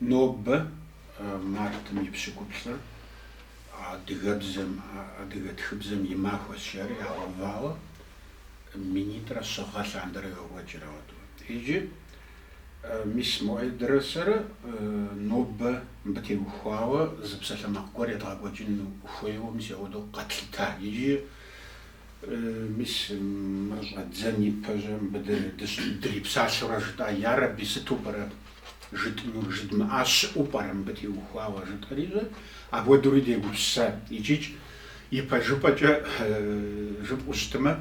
Нобэ мартым и пщыкӏуплӏыр адыгэбзэм, адыгэ тхыбзэм и махуэщ жари ягъэувауэ минитӏрэ щыгъэ лъандэрэ йокӏуэкӏыр ауэду. Иджы мис Муӏэедрэ сэрэ нобэ мыбы теухуауэ зы псалъэмакъ гуэр едгъэкӏуэкӏын хуейуэ, мис ауэду къэтлъытар. Иджы. Мис мыр щӏэддзэн ипэжьэ мыбы дырипсалъэурэ жытӏа, Ярэби, сыту пӏэрэ жытӏынур, жыдмыӏа щыӏэу пӏэрэ мыбы теухуауэ, жытӏэрижьэ, апхуэдэури дегупсысат. Икӏикӏ ипэжыпӏэкӏэ жыпӏэу щытымэ,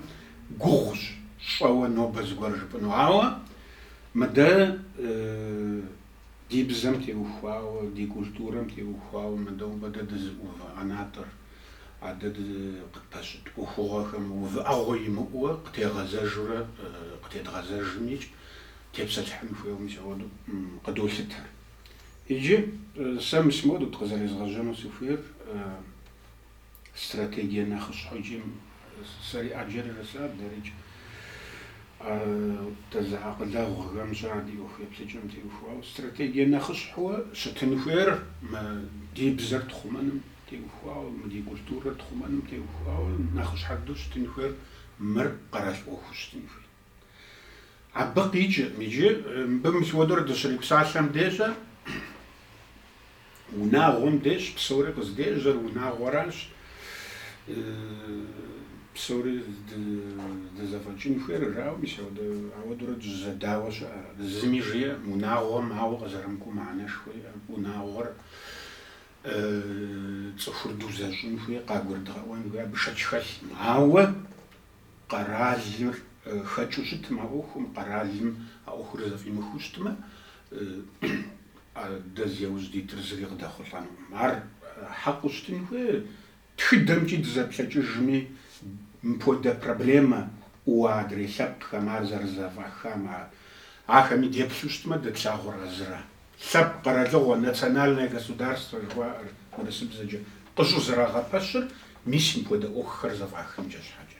гугъущ, щӏэуэ нобэ зыгуэр жыпӏыну, ауэ мыдэ, Ди бзэм теухуауэ, ди культурэм теухуауэ мыдэ нобэ дэ дызыӏувыӏэ ӏэнатӏэр, адэ дэ къытпэщыт ӏуэхугъуэхэм увыӏэгъуэ имыӏэуэ къытегъэзэжурэ къытедгъэзэжымикӏ тепсэлъыхьын хуейуэ мис ауэду къыдолъытэр. Иджы сэ мис моуэду къызэрезгъэжьэну сыхуейр. Стратегие нэхъыщхьэу икӏи сэри ӏэджэрэ садэрыкӏ, дэ зы акъылэгъухэм щар ди ӏуэху еплъыкӏэм теухуауэ. Стратегие нэхъыщхьэуэ щытын хуейр мы ди бзэр тхъумэным теухуауэ, мы ди культурэр тхъумэным теухуауэ нэхъыщхьэ дыдэу щытын хуейр мыр къэрал ӏуэхуу щытын хуейт. Абы къикӏыркъым иджы. Мыбы мис ауэдурэ дыщрипсалъэм деж, унагъуэм дежщ, псори къыздежьэр унагъуэращ. Псори дызэфӏэкӏын хуейр жаӏэу, мис ауэдэурэ дыщызэдауэ щыӏэ. Зыми жиӏэм, унагъуэм ауэ къызэрымыкӏуэу мыхьэнэшхуэ иӏэм. Унагъуэр цӏыхур дузэщӏын хуей, къагурыдгъэӏуэн хуей, абы шэч хэлъкъым. Ауэ къэралыр хэкӏыу щытым а ӏуэхум, къэралым а ӏуэхур зэфӏимыхыу щытмэ, дэ зи яужь дитыр зыри къыдэхъулӏэнукъым. Ар хьэкъыу щытын хуей, тхыдэмкӏи дызэплъэкӏыжми, мыпхуэдэ проблемэ яӏэуэ адрей лъэпкъхэм, ар зэрызэфӏахам, ахэми деплъу щытмэ, дэ тлъагъур а зыра. Лъэпкъ къэралыгъуэ, национальное государство жыхуаӏэр урысыбзэкӏэ, къыщӏызэрагъэпэщыр мис мыпхуэдэ ӏуэхухэр зэфӏахынкӏэ щхьэкӏэ.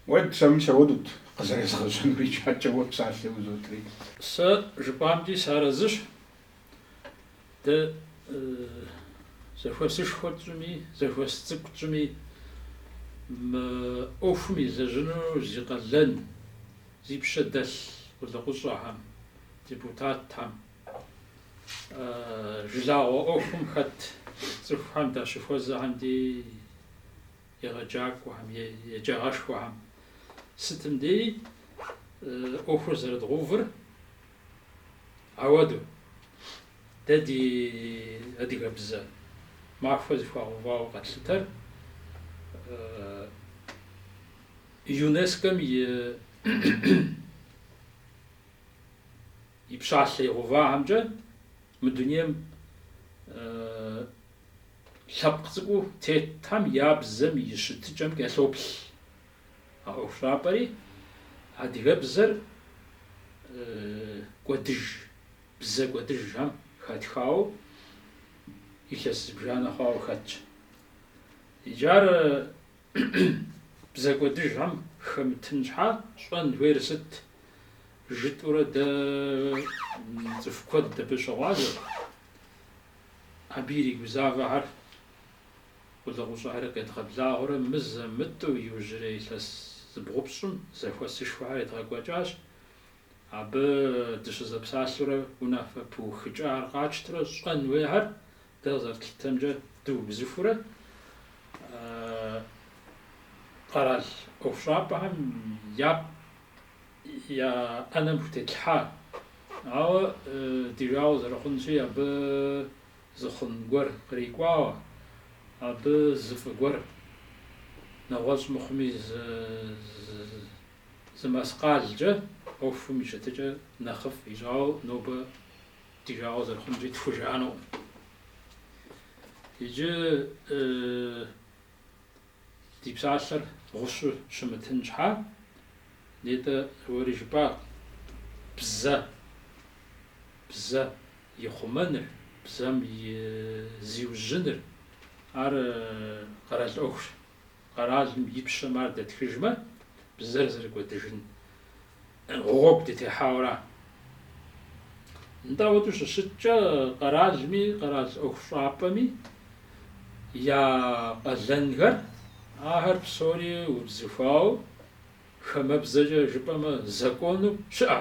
Вот сэ мис ауэдут, къызэрезгъэжьэнур икӏаткӏэ уэ псалъэ узотри. Сэ жыпӏамкӏи сарэзыщ. Дэ зэхуэсышхуэ тщӏми, зэхуэс цӏыкӏу тщӏми мы ӏуэхум елэжьыну зи къалэн, зи пщэ дэлъ къулыкъущӏэхэм, депутатхэм, жылагъуэ ӏуэхум хэт цӏыхухэм дащыхуэзэхэм ди егъэджакӏуэхэм, еджагъэшхуэхэм сытым деи ӏуэхур зэрыдгъувыр ауэду. Дэ ди адыгэбзэ махуэ зыхуагъэувауэ къэтлъытэр ЮНЕСКО-м и и пщалъэ игъэувахэмкӏэ мы дунейм лъэпкъ цӏыкӏуу тетхэм я бзэм и щытыкӏэм кӏэлъоплъ. А ӏуэхущӏапӏэри адыгэбзэр кӏуэдыж, бзэ кӏуэдыжхэм хэтхауэ илъэс зыбжанэ хъуауэ хэтщ. Иджы ар Бзэ кӏуэдыжхэм хэмытын щхьа щӏэн хуейр сыт жытӏурэ дэ цӏыху куэд абы щыгъуазэ, абы иригузавэхэр къулыкъущӏэхэр къедгъэблагъэурэ мызэ-мытӏэу иужьрей илъэс зыбгъупщӏым зэхуэсышхуэхэр едгъэкӏуэкӏащ. Абы дыщызэпсалъэурэ унафэ пыухыкӏахэр къатщтрэ щӏэн хуейхэр Дэ къызэрытлъытэмкӏэ, дыубзыхурэ къэрал ӏуэхущӏапӏэхэм я я ӏэнэм хутетлъхьа, ауэ ди жагъуэ зэрыхъунщи, абы зы хъун гуэр кърикӏуауэ, абы зы фӏы гуэр, нэгъуэщӏ мыхъуми, зы зы маскъалкӏэ ӏуэхум и щытыкӏэ нэхъыфӏ ищӏауэ нобэ Ди жагъуэ зэрыхъунщи тхужыӏэнукъым. Иджы ди псалъэр гъущу щымытын щхьа, нетӏэ уэри жыпӏа, бзэ, бзэ и хъумэныр, бзэм и зиужьыныр, ар къэрал ӏуэхущ. Къэралым и пщэм ар дэтхыжмэ, бзэр зэрыкӏуэдыжын гъуэгу дытехьауэра? Нтӏэ, ауэдэу щыщыткӏэ, къэралми, къэрал ӏуэхущӏапӏэми я къалэнхэр, ахэр псори убзыхуауэ, хэмэбзэкӏэ жыпӏэмэ, закону щыӏэ.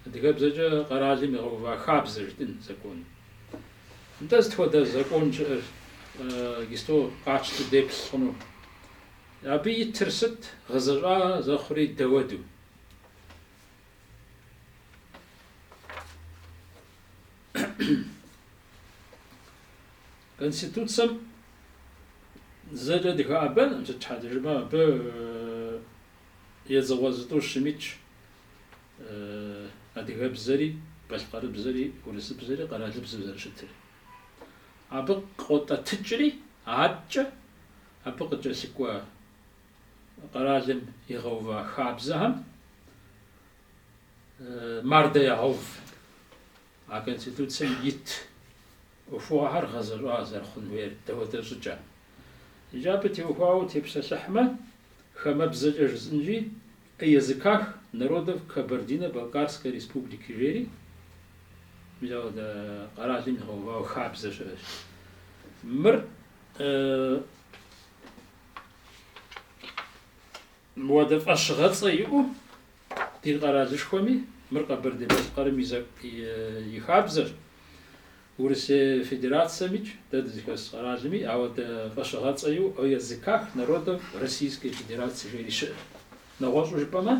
Адыгэбзэкӏэ къэралым игъэува хабзэ жытӏын закон. Нтӏэ сыт хуэдэ закон щыӏэр иджыпсту къатщту деплъ хъуну? Абы итыр сыт, гъэзэщӏа зэхъури дауэду? Конституцэм зэкӏэ дыхэӏэбэн, сыт щхьэкӏэ жыпӏэмэ, абы едзыгъуэ зытӏущым итщ адыгэбзэри, балъкъэрыбзэри, урысыбзэри, къэралыбзэу зэрыщытыр. Абы къотӏэтыкӏри, адэкӏэ абы къыкӏэлъыкӏуэ къэралым игъэува хабзэхэм мардэ ягъэув. А Конституцэм ит ӏуэхугъуэхэр гъэзэщӏа зэрыхъун хуейр дауэдэ щӏыкӏэ? Иджы абы теухуауэ тепсэлъыхьмэ, хамэбзэкӏэ жысӏынщи, о языках народов Кабардино-Балкарской республики жери мис ауэдэ къэралым игъэувауэ хабзэ щыӏэщ. Мыр Мыуэдэ фӏэщыгъэцӏэ иӏэу ди къэралышхуэми, мыр Къэбэрдей-Балъкъэрым и, и хабзэрщ, Урысей Федерацэмикӏ дэ дызыхэс къэралми ауэдэ фӏэщыгъэцӏэ иӏэу о языках народов Российской Федерации жери щыӏэщ. Нэгъуэщӏу жыпӏэмэ,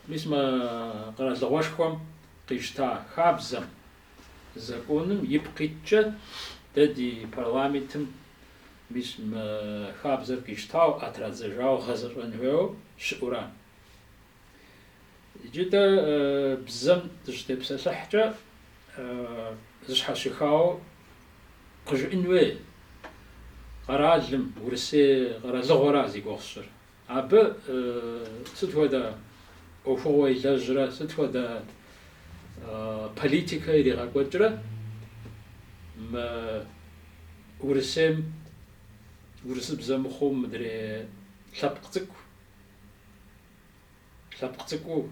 мис мы къэралыгъуэшхуэм къищта хабзэм, законым ипкъ иткӏэ дэ ди парламентым Мис мы хабзэр къищтауэ, ӏэ традзэжауэ гъэзэщӏэн хуейуэ щыӏура. Иджы дэ бзэм дыщытепсэлъыхькӏэ, зэщхьэщыхауэ къыжыӏын хуей къэралым, Урысей къэралыгъуэра зи гугъу сщӏыр. Абы сыт хуэдэ ӏуэхугъуэ илэжьрэ сыт хуэдэ политикэ иригъэкӏуэкӏрэ мы Урысейм урысыбзэ мыхъуу мыдрей лъэпкъ цӏыкӏу, лъэпкъ цӏыкӏуу,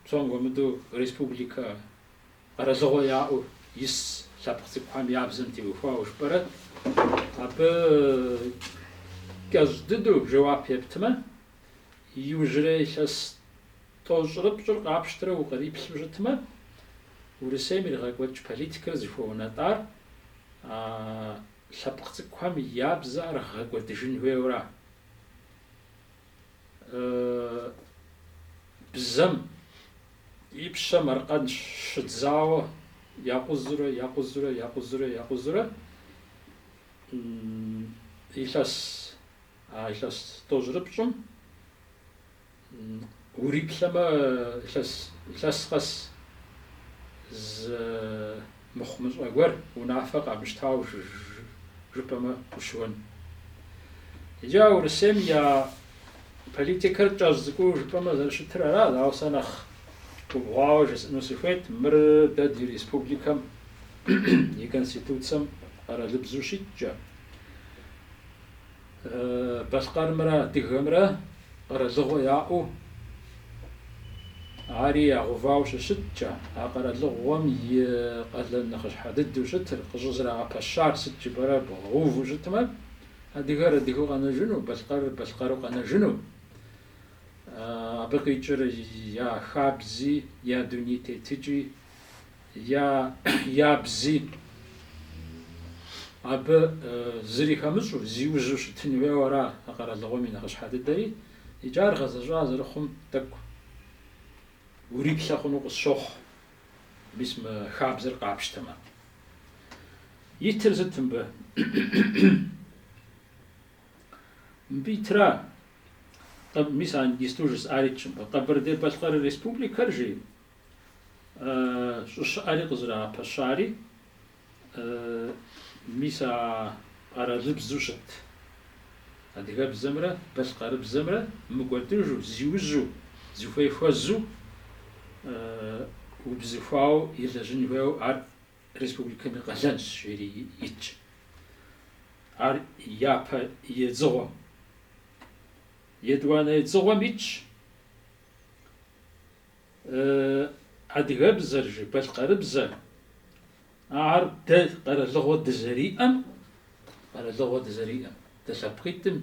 псом хуэмыдэу республикэ, Къэралыгъуэ яӏэу ис лъэпкъ цӏыкӏухэм я бзэм теухуауэ жыпӏэрэ, абы кӏэщӏ дыдэу жэуап ептмэ, иужьрей илъэс тӏощӏрыпщӏыр къапщтрэ укъриплъу щытмэ, Урысейм иригъэкӏуэкӏ политикэр зыхуэунэтӏар а лъэпкъ цӏыкӏухэм я бзэ ар гъэкӏуэдыжын хуейуэра. бзэм и пщэм аркъэн щыдзауэ якъузурэ, якъузурэ, якъузурэ, якъузурэ илъэс, а илъэс тӏощӏрыпщӏым уриплъэмэ илъэс, илъэс къэс зы Мыхъумыщӏэ гуэр унафэ къамыщтауэ жыпӏэмэ ущыуэн. Иджы а Урысейм я политикэр кӏэщӏ цӏыкӏуу жыпӏэмэ зэрыщытыр аращ, ауэ сэ нэхъ губгъуауэ жысӏэну сыхуейт, мыр дэ ди республикэм и конституцэм къэралыбзэу щиткӏэ, Балъкъэрымрэ Адыгэмрэ къэралыгъуэ яӏэу ари ягъэувауэ щыщыткӏэ, а къэралыгъуэм и къалэн нэхъыщхьэ дыдэу щытыр, къыщӏызэрагъэпэщар сыт жыпӏэрэ бгъэуву щытмэ, адыгэр адыгэу къэнэжыну, балъкъэрыр балъкъэру къэнэжыну, абы къикӏыр я хабзи, я дуней тетыкӏи я бзи абы зыри хэмыщӏу, зиужьу щытын хуейуэ ара а къэралыгъуэм и нэхъыщхьэ дыдэри, икӏи ар гъэзэщӏа зэрыхъум тӏэкӏу уриплъэ хъуну къысщохъу, мис мы хабзэр къапщтэмэ. Итыр сыт мыбы? Мыбы итра, мис иджыпсту жысӏар итщ мыбы, Къэбэрдей-Балъкъэр Республикэр жи, щӏыщыӏэри къызэрагъэпэщари, мис а къэралыбзу щыт адыгэбзэмрэ балъкъэрыбзэмрэ мыкӏуэдыжу, зиужьу, зыхуей хуэзу убзыхуауэ елэжьын хуейуэ ар республикэм и къалэнщ, жери итщ. Ар япэ едзыгъуэм, етӏуанэ едзыгъуэм итщ. Адыгэбзэр жи, балъкъэрыбзэр, ар дэ къэралыгъуэ дызэриӏэм, къэралыгъуэ дызэриӏэм, дэ лъэпкъитӏым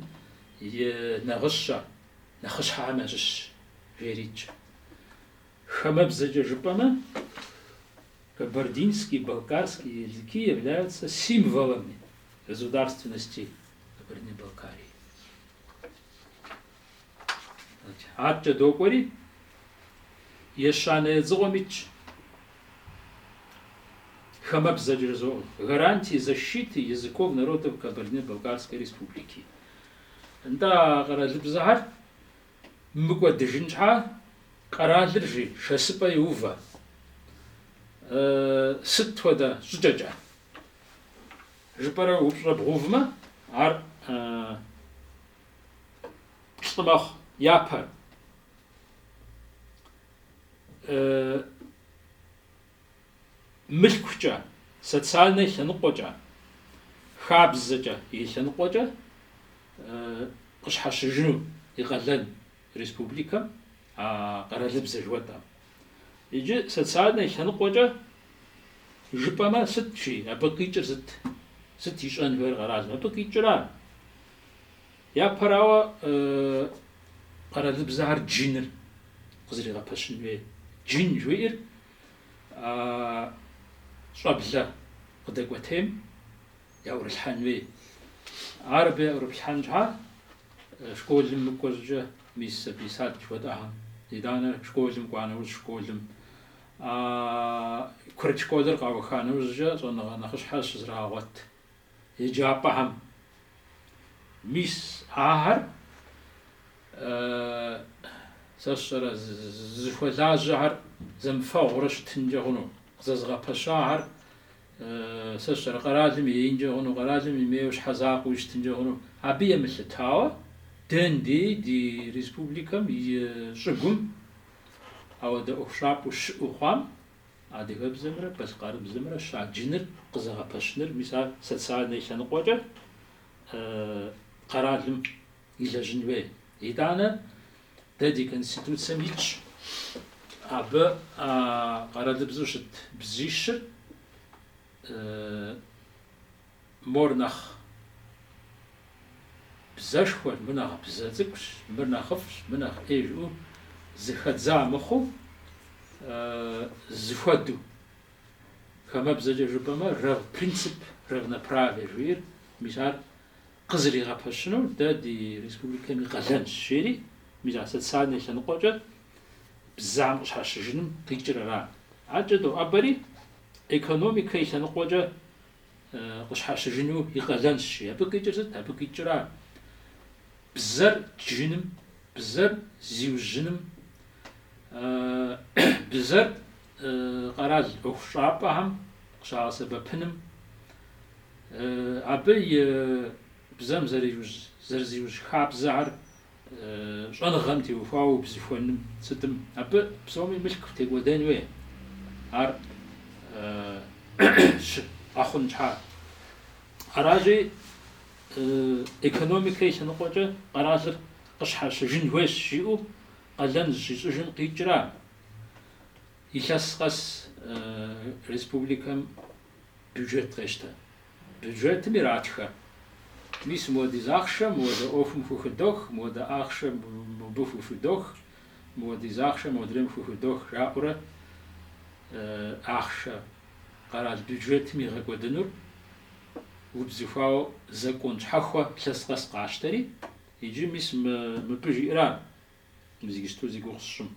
и нэгъыщэ нэхъыщхьэхэм ящыщщ, жери итщ. Хамэбзэкӏэ жыпӏэмэ, Кабардинский, Балкарский языки являются символами государственности Кабардино-Балкарии. Адэкӏэ докӏуэри, ещанэ едзыгъуэм итщ. Хамэбзэкӏэ жызоӏэ. Гарантии защиты языков народов Кабардино-Балкарской республики. Нтӏэ а къэралыбзэхэр мыкӏуэдыжын щхьа къэралыр жи шэсыпӏэ йоувэ. Сыт хуэдэ щӏыкӏэкӏэ жыпӏэрэ упщӏэ бгъувмэ, ар плӏы мэхъу. Япэр мылъкукӏэ, социальнэ лъэныкъуэкӏэ, хабзэкӏэ и лъэныкъуэкӏэ къыщхьэщыжыну и къалэн республикэм а къэралыбзэ жыхуэтӏэм. Иджы социальнэ лъэныкъуэкӏэ жыпӏэмэ сыт жи, абы къикӏыр сыт? Сыт ищӏэн хуейр къэралым? Абы къикӏыра Япэрауэ, къэралыбзэхэр джыныр къызэригъэпэщын хуей. Джын жыхуиӏэр щӏэблэ къыдэкӏуэтейм яӏурылъхьэн хуей. Ар абы яӏурыплъхьэн щхьа школым мыкӏуэ щӏыкӏэ мис сабий сад жыхуэтӏэхэм, итӏанэ школым кӏуа нэужь школым, курыт школыр къауха нэужькӏэ щӏэныгъэ нэхъыщхьэ щызрагъэгъуэт. Еджапӏэхэм мис ахэр сэ сщӏэрэ зыхуэлажьэхэр зэмыфэгъуурэ щытынкӏэ хъуну? Зэзыгъэпэщахэр сэ сщӏэрэ къэралым еинкӏэ хъуну, къэралым имейуэ щхьэзакъуэуи щытынкӏэ хъуну? Абы емылъытауэ, дэ ндей ди республикэм и щӏыгум ауэдэ ӏуэхущӏапӏэу щыӏэу хъуам Адыгэбзэмрэ балъкъэрыбзэмрэ щаджыныр, къызэгъэпэщыныр, мис ар социальнэ лъэныкъуэкӏэ къэралым илэжьын хуей. Итӏанэ дэ ди Конституцэм итщ абы къэралыбзэу щыт бзищыр Мор нэхъ бзэшхуэр, мыр нэхъ бзэ цӏыкӏущ, мыр нэхъыфӏщ, мы нэхъ ӏей жыӏэу зэхэдза мыхъуу, зэхуэдэу. Хамэбзэкӏэ жыпӏэмэ, рав принцип, равноправие жиӏэр, мис ар къызэригъэпэщыну дэ ди республикэм и къалэнщ, жери, мис а социальнэ лъэныкъуэкӏэ бзэм къыщхьэщыжыным къикӏыр ара. Адэкӏэ доӏэбэри, экономикэ и лъэныкъуэкӏэ къыщхьэщыжыну и къалэнщ, жи. Абы къикӏыр сыт? Абы къикӏра, бзэр джыным, бзэр зиужьыным, бзэр къэрал ӏуэхущӏапӏэхэм къыщагъэсэбэпыным, абы и бзэм зэрызиужь хабзэхэр, щӏэныгъэм теухуауэ убзыхуэным сытым, абы псоми мылъку текӏуэдэн хуей, ар щыӏэ хъун щхьа. Аращи, экономикэ и лъэныкъуэкӏэ къэралыр къыщхьэщыжын хуейщ, жиӏэу къалэн зыщищӏыжым къикӏра илъэс къэс республикэм бюджет къещтэ. Бюджетым иратхэ, мис мыуэдиз ахъшэ мыуэдэ ӏуэхум хухыдох, мыуэдэ ахъшэ мыбы хухыдох, мыуэдиз ахъшэ модрейм хухыдох жаӏэурэ ахъшэ къэрал бюджетым игъэкӏуэдынур убзыхуауэ закон щхьэхуэ лъэс къэс къащтэри, иджы мис мыбы жиӏэра? Мис иджыпсту зи гугъу сщӏым.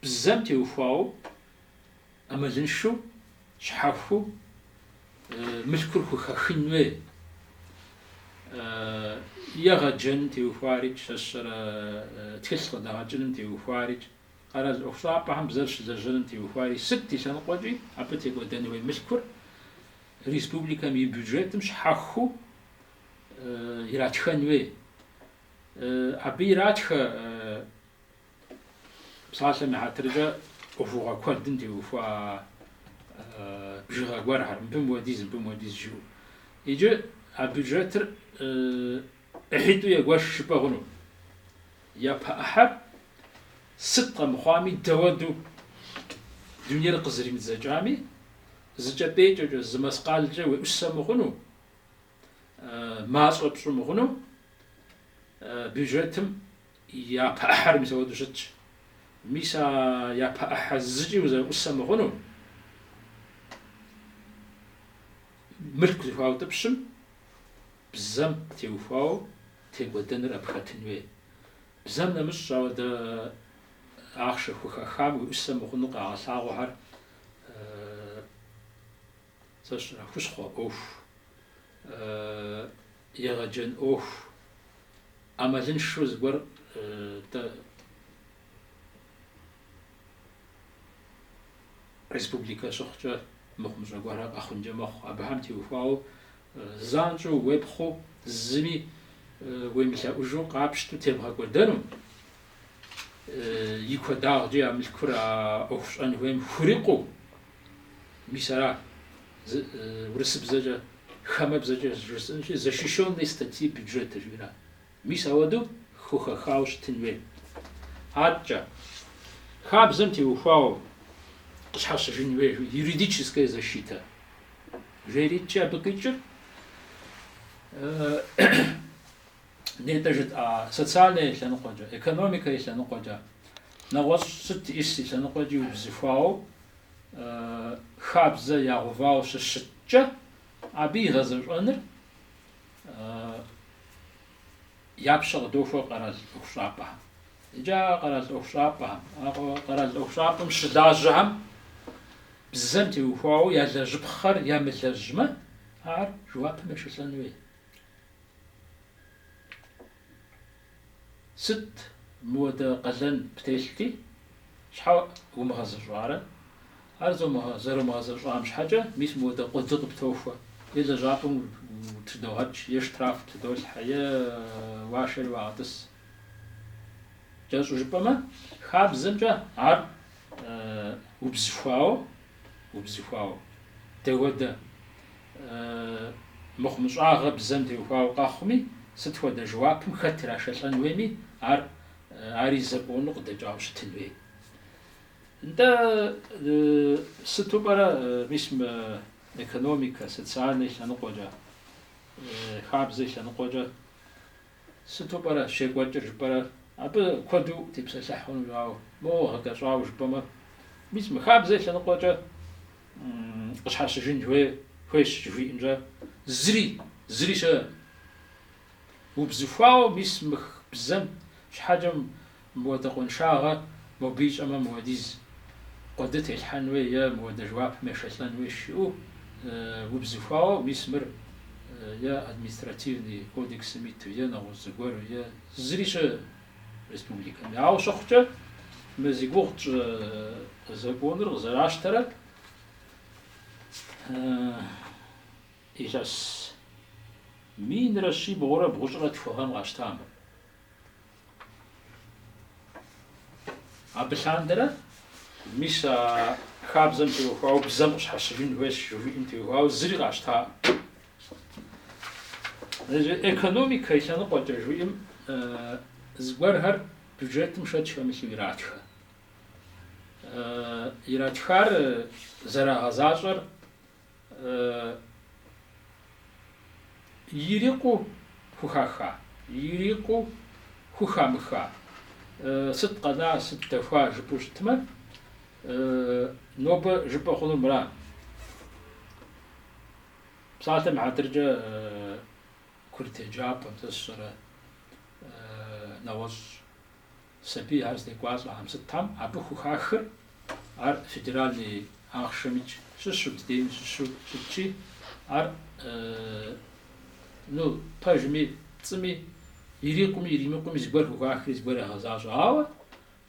Бзэм теухуауэ, ӏэмалыншэу, щхьэхуу, мылъкур хухэхын хуей. Егъэджэным теухуари, сэ сщӏэрэ тхылъ къыдэгъэкӏыным теухуари, къэрал ӏуэхущӏапӏэхэм бзэр щылэжьэным теухуари, сыт и лъэныкъуэкӏи абы текӏуэдэн хуей мылъкур республикэм и бюджетым щхьэхуу иратхэн хуей. Абы иратхэ псалъэм и хьэтыркӏэ ӏуэхугъуэ куэдым теухуа бжыгъэ гуэрхэр, мыбы мыуэдиз, мыбы мыуэдиз жиӏэу. Иджы а бюджетыр ӏыхьитӏу егуэш жыпӏэ хъуну. Япэ ӏыхьэр сыт къэмыхъуами дауэдэу дунейр къызэримыдзэкӏами, зы кӏэпӏейкӏэкӏэ, зы мэскъалкӏэ уеӏусэ мыхъуну, мащӏэ пщӏы мыхъуну, бюджетым япэ ӏыхьэр мис ауэдэу щытщ. Мис а япэ ӏыхьэ зыкӏи узэӏусэ мыхъуну, мылъку зыхуаутӏыпщым бзэм теухуауэ текӏуэдэныр абы хэтын хуей. Бзэм нэмыщӏ ауэдэу ахъшэ хухэхам уеӏусэ мыхъуну къагъэлъагъуэхэр Сэ сщӏэрэ хущхъуэ ӏуэху, егъэджэн ӏуэху, ӏэмалыншэу зыгуэр дэ республикэ щыхъукӏэ мыхъумыщӏэ гуэрхэр къэхъункӏэ мэхъу. Абыхэм теухуауэ занщӏэу уепхъуу зыми уемылъэӏужу къапщтэу тебгъэкӏуэдэнум, и куэдагъкӏи а мылъкур а ӏуэху щӏэн хуейм хурикъуу, Мис ара урысыбзэкӏэ хамэ бзэкӏэ жысӏэнщи, защищенные статьи бюджета жиӏэра? Мис ауэдэу хухэхауэ щытын хуей. Аткӏэ, хабзэм теухуауэ къыщхьэщыжын хуей юридическая защитэ жери аткӏэ абы къикӏыр Нетӏэ жытӏа социальнэ и лъэныкъуэкӏэ, экономикэ и лъэныкъуэкӏэ, нэгъуэщӏ сыт и лъэныкъуэкӏи убзыхуауэ, хабзэ ягъэувауэ щыщыткӏэ, абы и гъэзэщӏэныр я пщэ къыдохуэ къэрал ӏуэхущӏапӏэхэм. Иджы а къэрал ӏуэхущӏапӏэхэм, а къэрал ӏуэхущӏапӏэм щылажьэхэм бзэм теухуауэ ялэжьыпхъэр ямылэжьмэ, ар жэуапым ешэлӏэн хуей. Сыт мыуэдэ къалэн птелъти, щхьэ умыгъэзэщӏарэ? Ар зэрумыгъэзэщӏам щхьэкӏэ, мис мыуэдэ къуэды къыптохуэ, е лэжьапӏэм утыдогъэкӏ, е штраф птыдолъхьэ, е уашэри уагъэтӏыс. Кӏэщӏу жыпӏэмэ, хабзэмкӏэ ар убзыхуауэ. убзыхуауэ. Дэхуэдэ мыхъумыщӏагъэ бзэм теухуауэ къэхъуми, сыт хуэдэ жэуапым хэт ирашэлӏэн хуейми, ар ари закону къыдэкӏауэ щытын хуей. Нтӏэ, сыту пӏэрэ мис мы экономикэ, социальнэ и лъэныкъуэкӏэ, хабзэ и лъэныкъуэкӏэ Сыту пӏэрэ щекӏуэкӏыр жыпӏэрэ? Абы куэду утепсэлъыхь хъунущ, ауэ моуэ гъэкӏэщӏауэ жыпӏэмэ, мис мы хабзэ и лъэныкъуэкӏэ къыщхьэщыжын хуей, хуейщ жыхуиӏэмкӏэ, зыри, зыри щыӏэ. Убзыхуауэ мис мых бзэм щхьэкӏэм. Мыуэдэ къуэншагъэ мобы ищӏэмэ мыуэдиз къуэды телъхьэн уей е мыуэдэ жэуапым ешэлӏэн уей жиӏэу убзыхуауэ мис мыр е Административный кодексым иту е нэгъуэщӏ зыгуэру е зыри щы республикэм. Ауэ щыхъукӏэ мы зи гугъу тщӏы законыр къызэращтэрэ илъэс минрэ щибгъурэ бгъущӏрэ тху гъэм къащтам. Абы лъандэрэ, мис а хабзэм теухуауэ бзэм къыщхьэщыжын хуейщ жыхуиӏэм теухуауэ зыри къащтаӏым. Экономикэ и лъэныкъуэкӏэ жыхуиӏэм зыгуэрхэр бюджетым шэч хэмылъу иратхэ. Иратхар зэрагъэзащӏэр Ирикъуу хухаха, ирикъуу хухамыха, сыт къэна, сыт дэхуа жыпӏэу щытмэ, нобэ жыпӏэ хъунур мыра. Псалъэм и хьэтыркӏэ курыт еджапӏэм сэ сщӏэрэ нэгъуэщӏ Сабийхэр здекӏуалӏэхэм сытхэм абы хухахыр ар федеральный ахъшэмикӏ щыщу, дыдейм щыщу щытщи, ар, ну, пэжми, пцӏыми, ирикъуми, иримыкъуми зыгуэр хухахри зыгуэр ягъэзащӏэ. Ауэ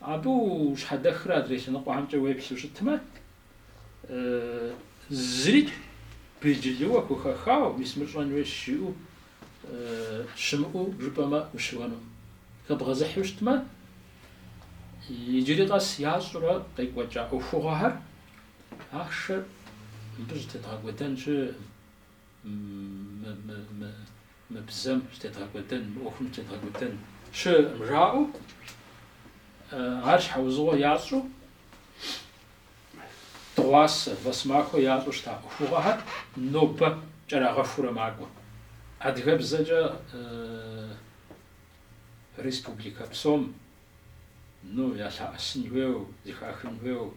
абы ущхьэдэхрэ адрей лъэныкъуэхэмкӏэ уеплъу щытмэ, Зыри белджылыуэ хухэхауэ, мис мыр щӏэн хуейщ жиӏэу щымыӏэу жыпӏэмэ ущыуэну. Хэбгъэзыхьу щытмэ, иджыри къэс ящӏурэ къекӏуэкӏа ӏуэхугъуэхэр ахъшэр мыбы щӏытедгъэкӏуэдэн щы, мы бзэм щӏытедгъэкӏуэдэн, мы ӏуэхум щӏытедгъэкӏуэдэн щыӏэкъым жаӏэу, ар щхьэузыгъуэ ящӏу дыгъуасэ, вэсэмахуэ ящӏу щыта ӏуэхугъуэхэр нобэ кӏэрагъэхуурэ макӏуэ. Адыгэбзэкӏэ республикэ псом, ну, ялъаӏэсын хуейуэ, зыхахын хуейуэ.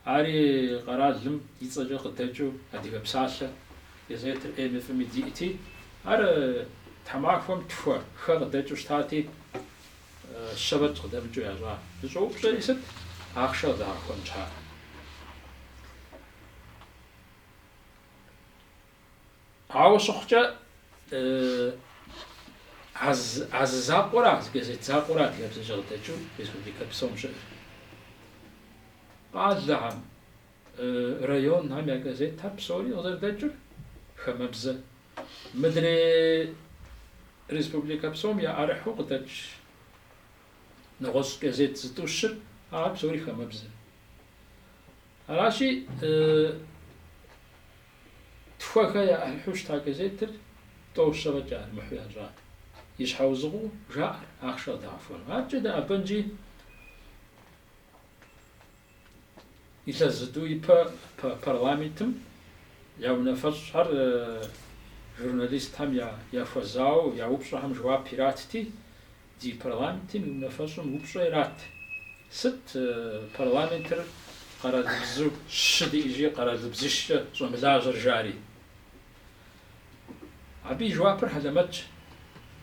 Ари къэралым и цӏэкӏэ къыдэкӏыу Адыгэ псалъэ газетыр ӏейми фӏыми диӏти, ар тхьэмахуэм тхуэ, хэ къыдэкӏыу щытати, Щэ фӏэкӏ къыдэмыкӏыу ящӏа зыщӏэупщӏэри сыт? Ахъшэ къыдагъэхуэн щхьа? Ауэ щыхъукӏэ, а зы закъуэра, а зы газет закъуэра адыгэбзэкӏэ къыдэкӏыу республикэ псом щыӏэр. Къалэхэм, районхэм я газетхэр псори къызэрыдэкӏыр хамэбзэ Мыдрей республикэ псом яӏэрыхьу къыдэкӏ нэгъуэщӏ газет зытӏущыр, ахэр псори хамэбзэ. Аращи, тхуэ, хэ яӏэрыхьу щыта газетыр тӏэу, щэ фӏэкӏ яӏэрымыхьу ящӏа. И щхьэузыгъуу жаӏэр, ахъшэ къыдагъэхуэну. Аркӏэ дэӏэбэнщи Илъэс зытӏу ипэ парламентым я унафэщӏхэр журналистхэм яхуэзауэ я упщӏэхэм жэуап иратти, Ди парламентым и унафэщӏым упщӏэ ират, сыт парламентыр къэралыбзу щы диӏи, жи, къэралыбзищкӏэ щӏэмылажьэр жари. Абы и жэуапыр хьэлэмэтщ,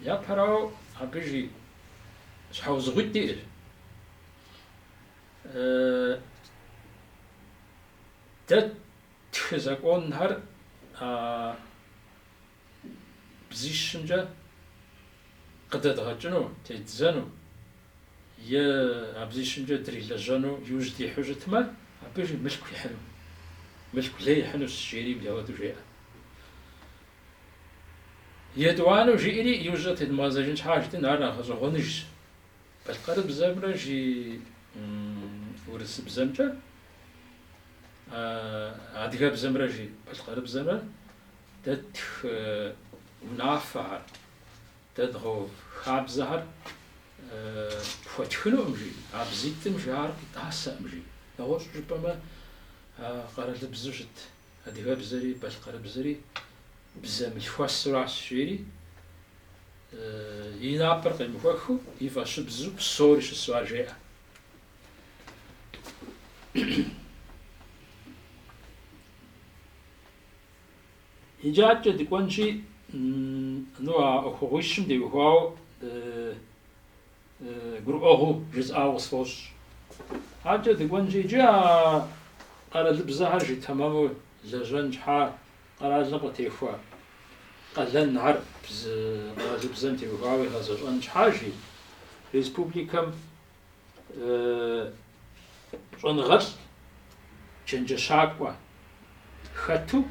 япэрауэ абы жи щхьэузыгъуитӏ диӏэр. Дэ ттхы законхэр бзищымкӏэ къыдэдгъэкӏыну, тедзэну е а бзищымкӏэ дрилэжьэну иужь дихьу щытмэ, абы жи мылъку ихьыну, мылъку лей ихьынущ, жери мыпхуэдэу жеӏэ. Етӏуанэу жиӏэри, иужькӏэ тедмыгъэзэжын щхьа жытӏэн, ар нэхъ гъэщӏэгъуэныжщ. Балъкъэрыбзэмрэ жи урысыбзэмкӏэ, адыгэбзэмрэ жи балъкъэрыбзэмрэ дэ ттх унафэхэр, дэ дгъэув хабзэхэр пхуэтхынукъым жи, а бзитӏым жи ар къитӏасэкъым жи. Нэгъуэщӏу жыпӏэмэ, къэралыбзу щыт Адыгэбзэри балъкъэрыбзэри бзэ мылъхуэсыращ, жери и напэр къемыхуэхыу и фӏэщыбзу псори щысу ар жеӏэ. Иджы адэкӏэ дыкӏуэнщи, ну а ӏуэхугъуищым теухуауэ гурыӏуэгъуу жысӏауэ къысфӏощӏ. Адэкӏэ дыкӏуэнщи, иджы а къэралыбзэхэр жи тэмэму лэжьэн щхьа къэралым къытехуэ къалэнхэр бзы къэралыбзэм теухуауэ игъэзэщӏэн щхьа жи, республикэм щӏэныгъэлӏ чэнджэщакӏуэ хэту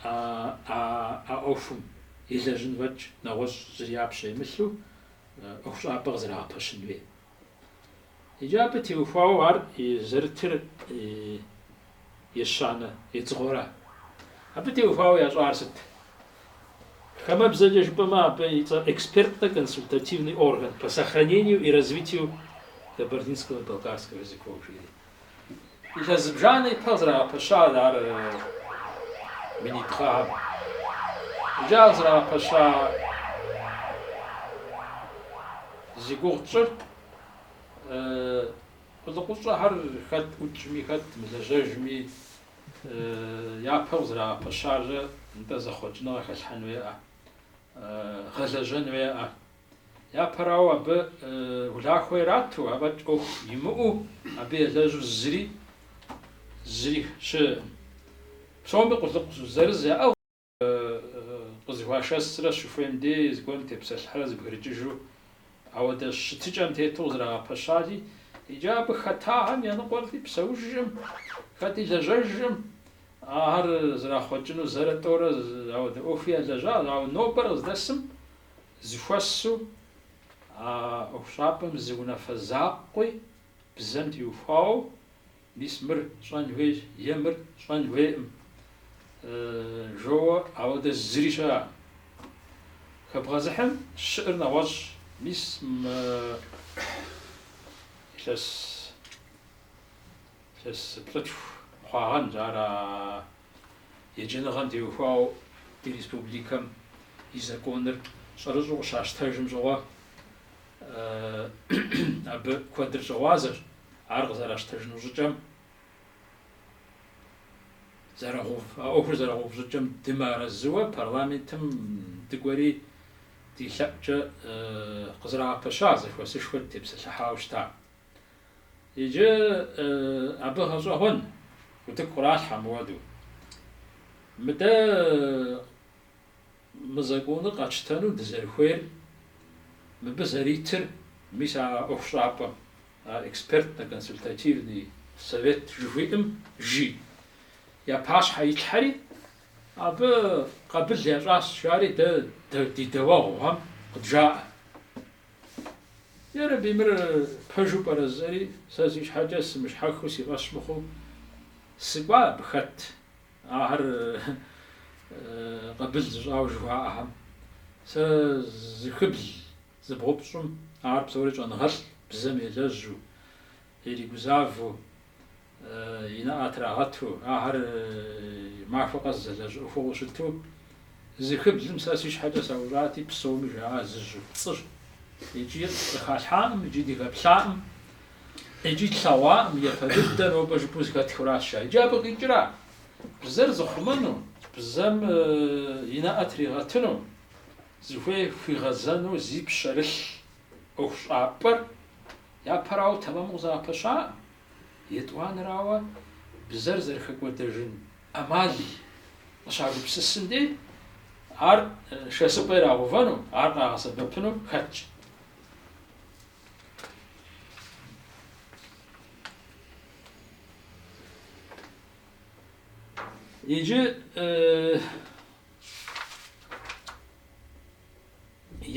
а ӏуэхум елэжьын фӏэкӏ нэгъуэщӏ зыри я пщэ имылъу ӏуэхущӏапӏэ къызэрагъэпэщын хуей. Иджы абы теухуауэ ар и зэрытыр ещанэ едзыгъуэра. Абы теухуауэ ящӏар сыт? Хамэбзэкӏэ жыпӏэмэ, абы и цӏэр экспертно-консультативный орган по сохранению и развитию кабардинского и балкарского языков жери. Илъэс зыбжанэ ипэ къызэрагъэпэща ар минитӏ гъэхэм. Иджы ар къызэрагъэпэща зи гугъу тщӏыр къулыкъущӏэхэр хэт ӏукӏми, хэт мылэжьэжми япэу къызэрагъэпэщарэ нтӏэ зэхъуэкӏыныгъэ хэлъхьэн хуейкъэ, гъэлэжьэн хуейкъэ. Япэрауэ, абы улахуэ ирату, афӏэкӏ ӏуэху имыӏэу, абы елэжьу зыри, зыри щыӏэкъым. Псоми къулыкъу зырыз яӏыгъщ, къызэхуашэсрэ щыхуейм дей зыгуэрым тепсэлъыхьрэ зэбгрыкӏыжу, ауэдэ щытыкӏэм тету къызэрагъэпэщати, иджы абы хэтахэм я ныкъуэр хэти псэужкъым, хэти лэжьэжкъым, ахэр зэрахъуэкӏыну зэрэ тӏэурэ ауэдэ ӏуэхуи ялэжьащ, ауэ нобэр къыздэсым Зэхуэсу а ӏуэхущӏапӏэм зы унафэ закъуи бзэм теухуауэ, мис мыр щӏэн хуейщ е мыр щӏэн хуейкъым жоуэ, ауэдэ зыри щыӏэкъым. Хэбгъэзыхьым щыӏэр нэгъуэщӏщ, мис мы илъэс плӏытху хъуагъэнщ ар а Еджэныгъэм теухуауэ ди республикэм и законыр щӏэрыщӏэу къыщащтэжым щӏыгъуэ абы куэдыр щӏыгъуазэщ, ар къызэращтэжыну щӏыкӏэм зэрыгъэув, а ӏуэхур зэрыгъэув щӏыкӏэм дымыарэзыуэ парламентым дыкӏуэри ди лъэӏукӏэ къызэрагъэпэща зэхуэсышхуэр тепсэлъыхьауэ щыта. Иджы абы гъэщӏэгъуэн утыку къралъхьэ мыуэду. Мыдэ мы законыр къэтщтэну дызэрыхуейр, мыбы зэритыр, мис а ӏуэхущӏапӏэм, а экспертно-консультативный совет жыхуиӏэм жи, я пащхьэ итлъхьэри, абы къабыл ящӏащ, жари дэ ди дэуэгъухэм къыджаӏэ. Ярэби, мыр пэжу пӏэрэ жысӏэри, сэ си щхьэкӏэ сымыщхьэхыу, си фӏэщ мыхъуу сыкӏуа абы хэт ахэр къабыл зыщӏауэ жыхуаӏэхэм. Сэ зыхыбл зыбгъупщӏым ахэр псори щӏэныгъэлӏ, бзэм елэжьу, иригузавэу, и нэӏэ трагъэту, ахэр махуэ къэс зэлэжь ӏуэхугъуэу щыту, зыхыблым сэ си щхьэкӏэ саущӏати, псоми жаӏа зы жьэу пцӏыщ, икӏи къыхалъхьакъым, икӏи дыхэплъакъым, икӏи тлъэгъуакъым, япэ дыдэ нобэ жыпӏэу зыхэтхуращ ар. Иджы абы къикӏра? Бзэр зыхъумэну, бзэм и нэӏэ тригъэтыну, зыхуей хуигъэзэну зи пщэрылъ ӏуэхущӏапӏэр япэрауэ тэмэму къызэгъэпэщакъым. Етӏуанэрауэ, бзэр зэрыхэкӏуэдэжын ӏэмал къыщагупсысын дей, ар шэсыпӏэ ирагъэувэну, ар къагъэсэбэпыну хэтщ. Иджы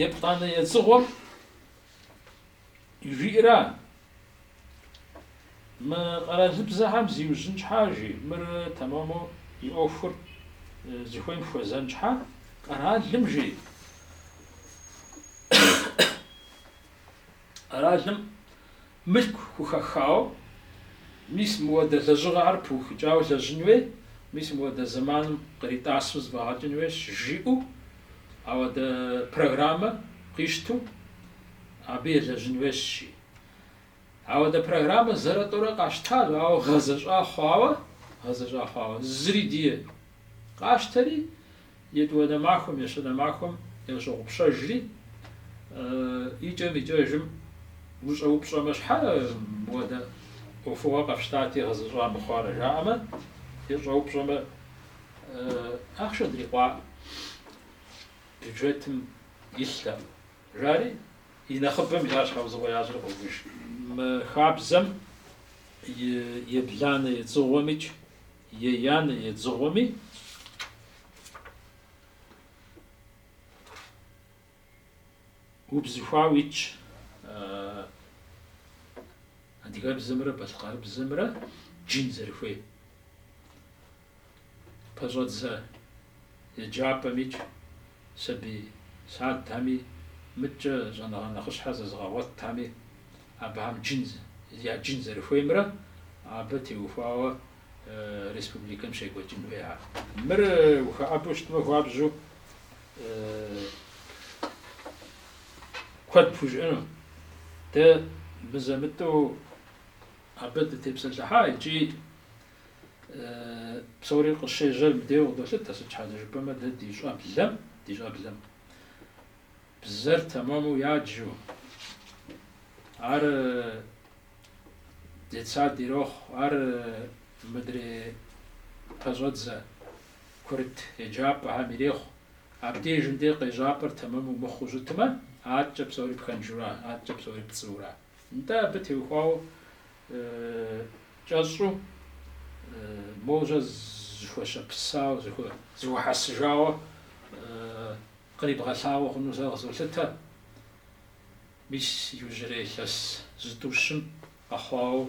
еплӏанэ едзыгъуэм жиӏэра Мы къэралыбзэхэм зиужьын щхьа, жи, мыр тэмэму и ӏуэхур зыхуейм хуэзэн щхьа, къэралым, жи, къэралым мылъку хухэхауэ, мис мыуэдэ лэжьыгъэхэр пыухыкӏауэ лэжьын хуей, мис мыуэдэ зэманым къритӏасу зыфӏэгъэкӏын хуейщ, жиӏэу ауэдэ программэ къищту Абы елэжьын хуейщи. Ауэдэ программэ зэрэтӏурэ къащтащ, ауэ гъэзэщӏа хъуауэ, гъэзэщӏа хъуауэ, зыри дие къащтэри, етӏуанэ махуэм, ещанэ махуэм ящогъупщэжри, икӏэм-икӏэжым ущӏэупщӏэмэ, щхьэ мыуэдэ ӏуэхугъуэ къэфщтати, гъэзэщӏа мыхъуарэ жаӏэмэ, ещӏэупщӏэмэ, ахъшэ дрикъуакъым, бюджетым илътэкъым. Жари, и нэхъыбэм ар щхьэузыгъуэ ящӏри къоувыж. Мы хабзэм и ебланэ едзыгъуэмикӏ еянэ едзыгъуэми убзыхуауэ итщ, адыгэбзэмрэ балъкъэрыбзэмрэ джын зэрыхуей. пэщӏэдзэ еджапӏэмикӏ, сабий садхэми, мыткӏэ щӏэныгъэ нэхъыщхьэ зэзыгъэгъуэтхэми, абыхэм джын, я джын зэрыхуеймрэ абы теухуауэ республикэм щекӏуэкӏын хуея? Мыр ухэӏэбэу щытмэ хуабжьу куэд пхужыӏэну. Дэ мызэ-мытӏэу абы дытепсэлъыхьа икӏи Псори къыщежьэр мыбдеу къыдолъытэ, сыт щхьэкӏэ жыпӏэмэ дэ ди щӏэблэм, ди щӏэблэм бзэр тэмэму яджу, ар детсад ирохъу, ар мыдрей пэщӏэдзэ курыт еджапӏэхэм ирехъу. Абдежым дей къежьапӏэр тэмэму мыхъуу щытмэ, аткӏэ псори пхэнжура, аткӏэ псори пцӏыура? Нтӏэ, абы теухуауэ кӏэщӏу, моужьэ зыхуэщэпысауэ, зыхуэхьэсыжауэ кърибгъэлъагъуэ хъуну сэ къызолъытэ. Мис иужьрей илъэс зытӏущым къэхъуауэ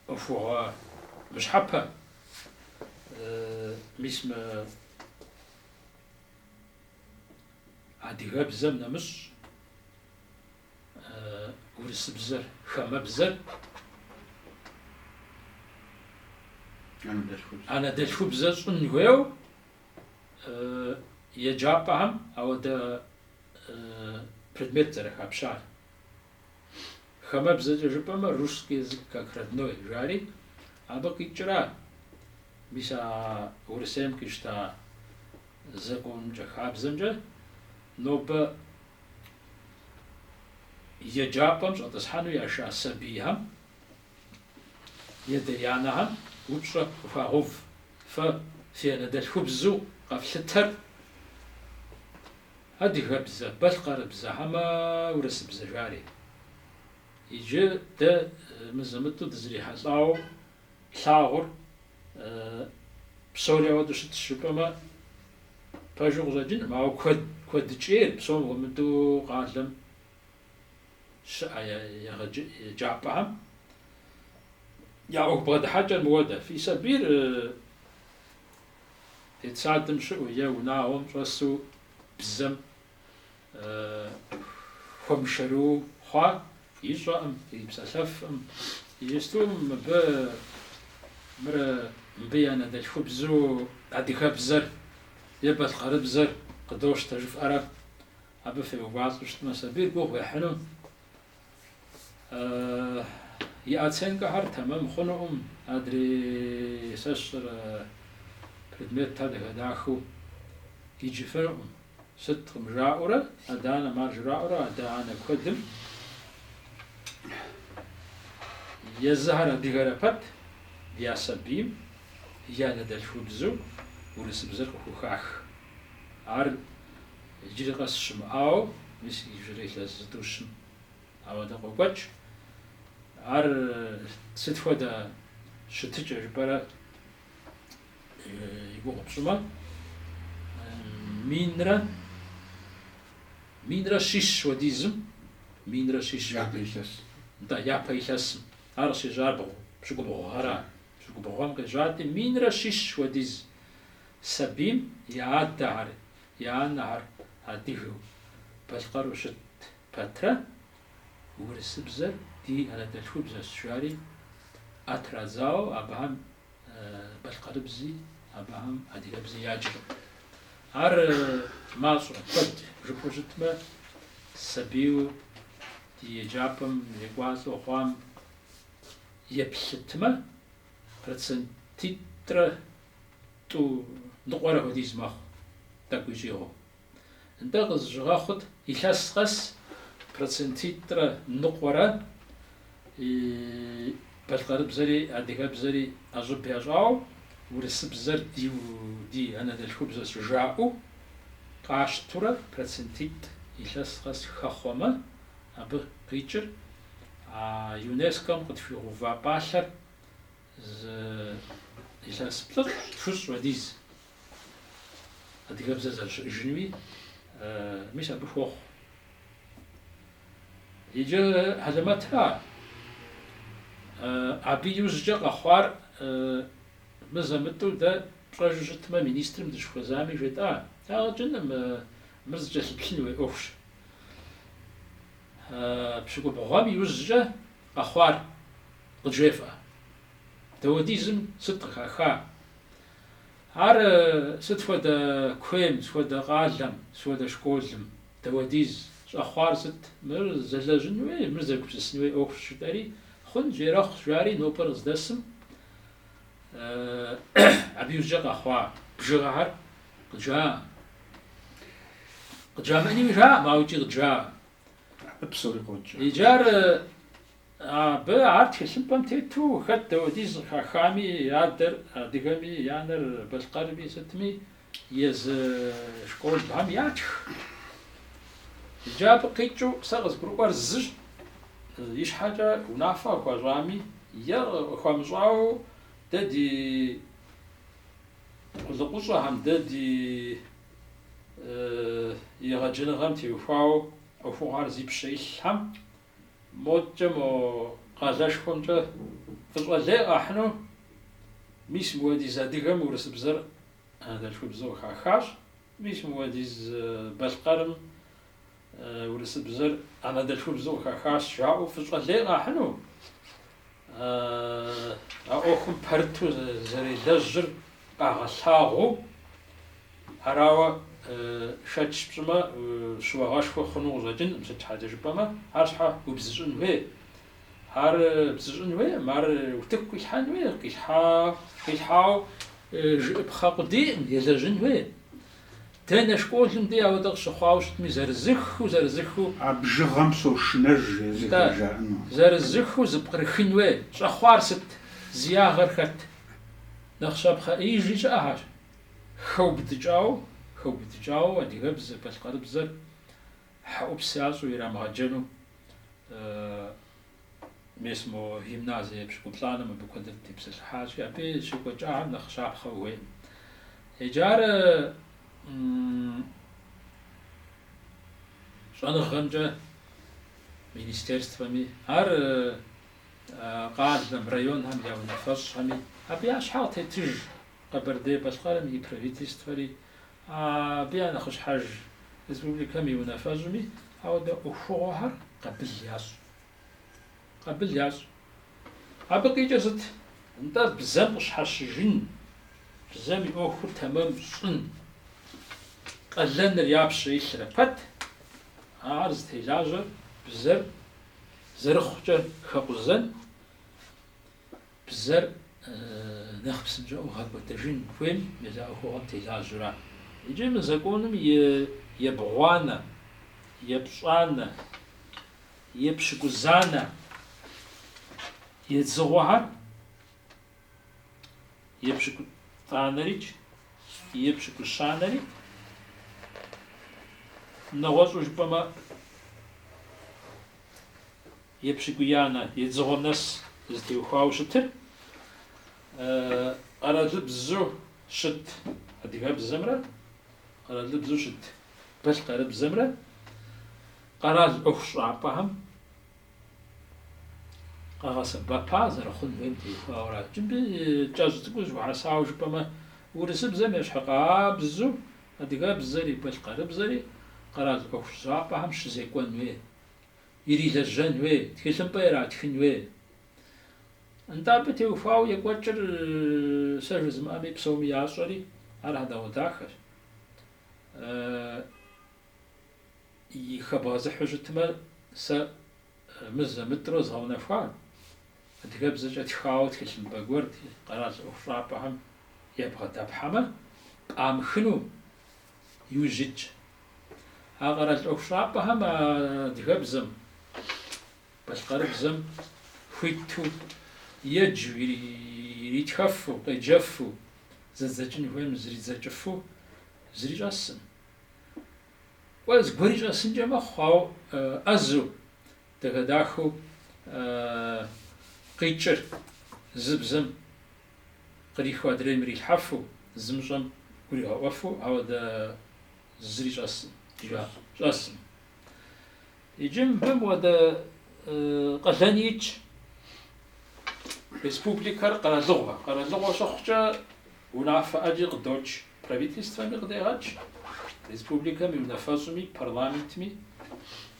ӏуэхугъуэ мыщхьэпэ, мис мы адыгэбзэм нэмыщӏ урысыбзэр, хамэбзэр, анэдэлъхубзэ щӏын хуейуэ еджапӏэхэм ауэдэ предмет зэрыхапщар. Хамэбзэкӏэ жыпӏэмэ русский язык как родной жари, абы къикӏра мис а Урысейм къищта законымкӏэ хабзэмкӏэ нобэ Еджапӏэм щӏэтӏысхьэну яша сабийхэм я адэ-анэхэм упщӏэ къыхуагъэув. Фэ фи анэдэлъхубзу къэфлъытэр адыгэбзэ, балъкъэрыбзэ хьэмэ урысыбзэ жари. Иджы дэ мызэ-мытӏу дызрихьэлӏауэ Плъагъур, псори ауэдэу щытщ жыпӏэмэ, пэжу къыщӏэкӏынкъым, ауэ куэд, куэдыкӏейр, псом хуэмыдэу къалэм щыӏэ еджапӏэхэм я ӏуэху бгъэдыхьэкӏэр мыуэдэ. Фи сабийр детсадым щыӏэу е унагъуэм щӏэсу бзэм хуэмышэрыуэ хъуа ищӏэӏым, ипсэлъэфӏым. Иджысту мыбы мыр мыбы я анэдэлъхубзу адыгэбзэр е балъкъэрыбзэр къыдощтэ жыфӏэрэ абы феувалӏэу щытмэ, сабийр гугъу ехьыну и оценкэхэр тэмэм хъунукъым, адрей сэ сщӏэрэ предметхэр дахэ-дахэу иджыфынукъым, сыткъым жаӏэурэ, адэ-анэм ар жраӏэурэ, адэ-анэ куэдым езыхэр адыгэрэ пэт я сабийм и анэдэлъхубзу урысыбзэр къыхухах. Ар Иджыри къэс щымыӏауэ, мис иджыри илъэс зытӏущым ауэдэ къокӏуэкӏ. Ар сыт хуэдэ щытыкӏэ жыпӏэрэ и гугъу пщӏымэ, минрэ минрэ щищ хуэдизым, минрэ щищ хуэдизым. Япэ илъэс. Нтӏэ, япэ илъэсым. Ар къыщежьар пщыкӏубгъу гъэра? Пщыкӏубгъу гъэм къежьати, минрэ щищ хуэдиз сабийм я адэхэр, Я анэхэр адыгэу, балъкъэру щыт пэтрэ, урысыбзэр ди анэдэлъхубзэщ, жари ӏэ традзауэ абыхэм балъкъэрыбзи, абыхэм адыгэбзи яджкъым. Ар мащӏэ, куэд жыпӏэу щытмэ, сабийуэ ди еджапӏэм екӏуалӏэу хъуам еплъытмэ, процентитӏрэ Тӏу ныкъуэрэ хуэдиз мэхъу, тӏэкӏу щӏигъуу. Нтӏэ къызыщыгъэхъут илъэс къэс процентитӏрэ ныкъуэрэ и балъкъэрыбзэри, адыгэбзэри ӏэщӏыб ящӏауэ, урысыбзэр ди ди анэдэлъхубзэщ жаӏэу къащтурэ процентитӏ илъэс къэс хэхъуэмэ, абы къикӏыр а ЮНЕСКО-м къытхуигъэува пӏалъэр Зы илъэс плӏыщӏ тхущӏ хуэдиз адыгэбзэр зэрыщыӏэжынуи, мис абы хуохъу. Иджы хьэлэмэтра, абы иужькӏэ къэхъуар мызэ-мытӏэу дэ пщӏэжу щытмэ, министрым дыщыхуэзами жетӏа, ягъэкӏыным, мыр зыкӏэлъыплъын хуей ӏуэхущ. Пщыкӏубгъуэм иужькӏэ къэхъуар Къыджефӏэ, дауэдизым сыт къыхаха? Ар сыт хуэдэ куейм, сыт хуэдэ къалэм, сыт хуэдэ школым, дауэдиз, щӏэхъуар сыт? Мыр зэлэжьын хуей, мыр зэгупсысын хуей ӏуэхущ жытӏэри, Хъунщ, ерэхъущ, жари нобэр къыздэсым абы иужькӏэ къэхъуа бжыгъэхэр къыджаӏэкъым. Къыджамыӏэнуи жаӏэкъым, ауэ икӏи къыджаӏэкъым. Абы псори къокӏ. Иджы ар Абы ар тхылъымпӏэм тету, хэт дауэдиз къыхахами, и адэр адыгэми, и анэр балъкъэрми сытми, езы школхэм ятх. Иджы абы къикӏыу сэ къызгурыӏуэр зыщ, ищхьэкӏэ унафэ къыхуащӏами е къыхуамыщӏауэ дэ ди къулыкъущӏэхэм, дэ ди егъэджэныгъэм теухуауэ ӏуэхугъуэр зи пщэ илъхэм Модкӏэ мо къалэшхуэмкӏэ фӏыщӏэ лей къахьыну, мис мыпхуэдиз адыгэм урысыбзэр анэдэлъхубзэу хахащ, мис мыпхуэдиз балъкъэрым урысыбзэр анэдэлъхубзэу хахащ жаӏэу фӏыщӏэ лей къахьыну, А ӏуэхум пэрыту зэрелэжьыр къагъэлъагъуэу, арауэ шэч пщӏымэ, щыуагъэшхуэ хъуну къыщӏэкӏынкъым, сыт щхьэкӏэ жыпӏэмэ, ар щхьэ убзыщӏын хуей? Ар бзыщӏын хуейкъым, ар утыку къилъхьэн хуей, къилъхьауэ жыӏыпхъэ къудейкъым, елэжьын хуей. Дэнэ школым дей апхуэдэ къыщыхъуауэ щытми, зырызыххэу, зырызыххэу. А бжыгъэм сошынэж езыхэр Нтӏэ, жаӏэну. зырызыххэу зэпкърыхын хуей. Щӏэхъуар сыт? Зи ягъэр хэт? Нэхъ щапхъэ ӏеижи щыӏэхэщ. Хэубыдыкӏауэ, хэубыдыкӏауэ адыгэбзэ, балъкъэрыбзэр хьэӏупс ящӏу ирамыгъэджэну. Мес мо гимназие епщыкӏуплӏанэм абы куэдыр тепсэлъыхьащи, абы щекӏуэкӏахэм нэхъ щапхъэ ухуейкъым. Иджы ар щӏэныгъэмкӏэ министерствэми, ар къалэм, районхэм я унафэщӏхэми абы я щхьэ къытетыж Къэбэрдей-Балъкъэрым и правительствэри, Абы я нэхъыщхьэж республикэм и унафэщӏми ауэдэ ӏуэхугъуэхэр къабыл ящӏ. Къабыл ящӏ. Абы къикӏыр сыт? Нтӏэ, бзэм къыщхьэщыжын, бзэм и ӏуэхур тэмэм щӏын, къалэныр я пщэ илърэ пэт, ар зытелажьэр бзэр зэрыхъукӏэрэ хэкъузэн, Бзэр нэхъ псынщӏэу гъэкӏуэдыжын хуейм мис а ӏуэхугъуэм телажьэурэ. Иджы мы законым и ебгъуанэ, епщӏанэ, епщыкӏузанэ едзыгъуэхэр, епщыкӏутӏанэрикӏ епщыкӏущанэри, нэгъуэщӏу жыпӏэмэ, Епщыкӏуиянэ едзыгъуэм нэс зытеухуауэ щытыр къэралыбзу щыт адыгэбзэмрэ къэралыбзу щыт балъкъэрыбзэмрэ къэрал ӏуэхущӏапӏэхэм къэгъэсэбэпа зэрыхъун хуейм теухуауэращ. Иджы мыбы кӏэщӏ цӏыкӏуу зэхуэхьэсауэ жыпӏэмэ, урысыбзэм ещхьыкъабзу адыгэбзэри балъкъэрыбзэри къэрал ӏуэхущӏапӏэхэм щызекӏуэн хуей. Ирилэжьэн хуей, тхылъымпӏэ иратхын хуей. Нтӏэ абы теухуауэ екӏуэкӏыр сэ жызымыӏэми псоми ящӏэри, ар хьэдэгъуэдахэщ. Хэбгъэзыхьу щытмэ, сэ мызэ-мытӏрэ згъэунэхуа, адыгэбзэкӏэ тхауэ тхылъымпӏэ гуэр ди къэрал ӏуэхущӏапӏэхэм ебгъэдэпхьэмэ, пӏамыхыну Иужь итщ. А къэрал ӏуэхущӏапӏэхэм адыгэбзэм, балъкъэрыбзэм хуиту еджэу, иритхэфу, къеджэфу, зэдзэкӏын хуейм зэридзэкӏыфу зыри щӏэсым. Кӏуэ зыгуэри щӏэсынкӏэ мэхъу, ауэ ӏэзэу, дахэ-дахэу къикӏыр зы бзэм. Къриху адрейм ирилъхьэфу, зымыщӏэм гуригъэӏуэфу, ауэдэ зыри щӏэсым, щӏэсым. Иджы мыбы мыуэдэ къалэн итщ. Республикэр къэралыгъуэ. Къэралыгъуэ щыхъукӏэ унафэ ӏэджи къыдокӏ, правительствэми къыдегъэкӏ, республикэм и унафэщӏми, парламентми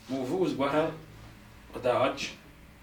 мыувыӏэу зыгуэрхэр къыдагъэкӏ.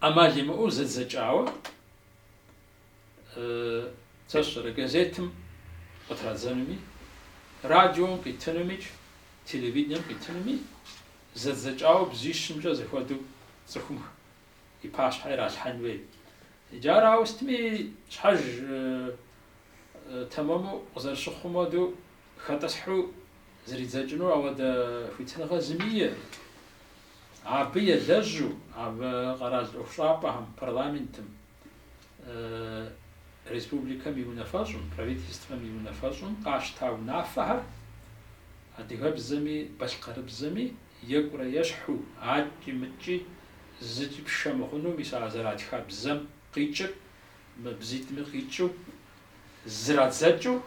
ӏэмал имыӏэу зэдзэкӏауэ сэ сщӏэрэ газетым къытрадзэнуми, радиом къитынумикӏ, телевидением къитынуми зэдзэкӏауэ бзищымкӏэ зэхуэдэу цӏыхум и пащхьэ иралъхьэн хуей. Иджы ар ауэ сытми щхьэж тэмэму къызэрыщыхъум хуэдэу хэтӏысхьу зридзэкӏыну ауэдэ хуитыныгъэ зыми иӏэу. Абы елэжьу, абы къэрал ӏуэхущӏапӏэхэм, парламентым, республикэм и унафэщӏым, правительствэм и унафэщӏым къащта унафэхэр адыгэбзэми балъкъэрыбзэми екӏурэ ещхьу, аткӏи-мыткӏи зыкӏи пшэ мыхъуну, мис а зэратха бзэм къикӏыр мы бзитӏми къикӏыу зрадзэкӏыу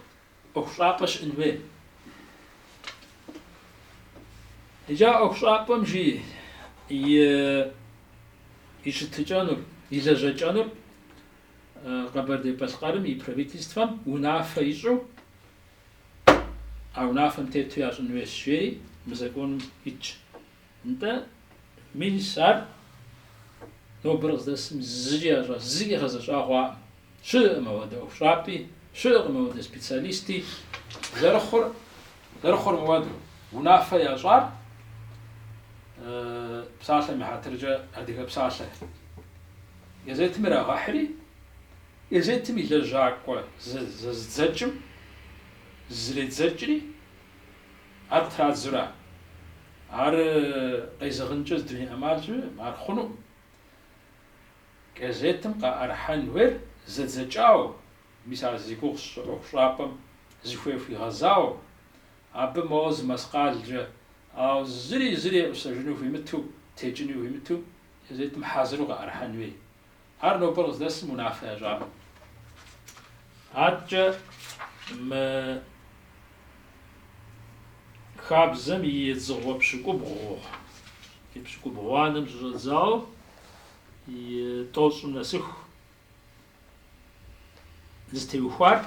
ӏуэхущӏапӏэ щыӏын хуей. Иджы а ӏуэхущӏапӏэм жи и щытыкӏэнур, и лэжьэкӏэнур Къэбэрдей-Балъкъэрым и правительствэм унафэ ищӏу, а унафэм тету ящӏын хуейщ, жери мы законым итщ. Нтӏэ, мис ар нобэр къыздэсым зыкӏи ящӏа, зыкӏи гъэзэщӏа хъуакъым. Щыӏэкъым ауэдэ ӏуэхущӏапӏи, щыӏэкъым ауэдэ специалисти. Зэрыхъур, зэрыхъур мыуэду, унафэ ящӏар псалъэм и хьэтыркӏэ Адыгэ псалъэ газетым ирагъэхьри, газетым и лэжьакӏуэ зэзыдзэкӏым зызредзэкӏри, Ар традзура. Ар къезэгъынкӏэ зы дуней ӏэмал щыӏэкъым, ар хъунукъым. Газетым къаӏэрыхьэн хуейр зэдзэкӏауэ, мис ар зи гугъу сщӏы ӏуэхущӏапӏэм зыхуей хуигъэзауэ, абы моуэ зы мэскъалкӏэ, ауэ зыри зыри еӏусэжыну хуимыту, текӏыну хуимыту газетым хьэзыру къаӏэрыхьэн хуей. Ар нобэр къыздэсым унафэ ящӏакъым. Аткӏэ мы хабзэм и едзыгъуэ пщыкӏубгъу, и пщыкӏубгъуанэм щыщӏэдзауэ и тӏощӏым нэсыху зытеухуар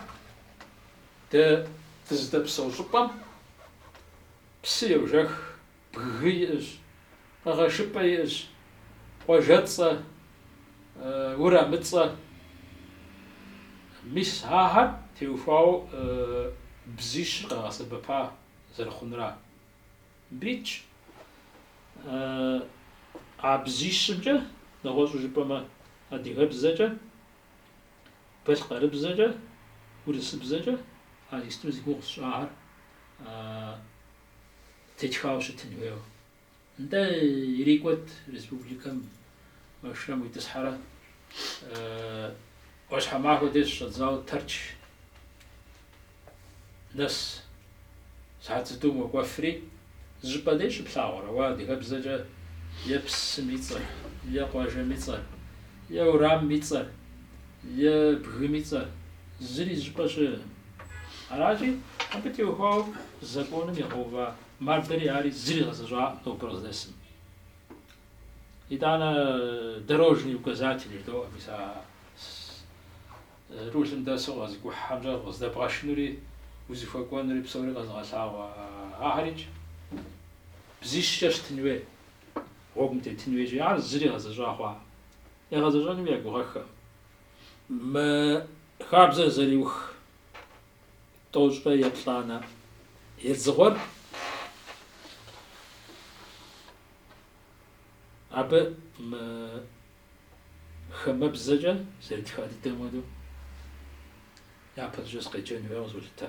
дэ дызыдэпсэу щӏыпӏэм псы йожэх. Бгы иӏыщ, къэгъэшыпӏэ иӏыщ, къуажэцӏэ, урамыцӏэ. Мис ахэр теухуауэ бзищыр къэгъэсэбэпа зэрыхъунура. Мыбы итщ, а бзищымкӏэ, нэгъуэщӏу жыпӏэмэ, адыгэбзэкӏэ, балъкъэрыбзэкӏэ, урысыбзэкӏэ а исту зи гугъу сщӏахэр. Тетхауэ щытын хуейуэ. Нтӏэ, ирикӏуэт республикэм машинэм уитӏысхьэрэ, ӏуащхьэмахуэ деж щыщӏэдзауэ Тэрч нэс сыхьэт зытӏум уэкӏуэфри, зы щӏыпӏэ дей щыплъагъурэ уэ адыгэбзэкӏэ е псым и цӏэр, е къуажэм и цӏэр, е урамым и цӏэр, Е бгым и цӏэр зыри зы щӏыпӏэ щыӏэкъым. Аращи, абы теухуауэ законым игъэува мардэри ари зыри гъэзэщӏакъым нобэр къыздэсым. Итӏанэ дорожные указатели жыдоӏэ мис а рулым дэсу къэзыкӏухьхэмкӏэ къыздэбгъэшынури узыхуэкӏуэнури псори къэзыгъэлъагъуэ ахэрикӏ бзищкӏэ щытын хуей, гъуэгум тетын хуейщи, ар зыри гъэзэщӏа хъуакъым. Ягъэзэщӏэнуи я гугъэххэӏым. Мы хабзэр зэриух тӏощӏрэ еплӏанэ едзыгъуэр абы мы хамэбзэкӏэ зэрытха дыдэм хуэдэу япэщӏыкӏэ сыкъеджэн хуейуэ къызолъытэ.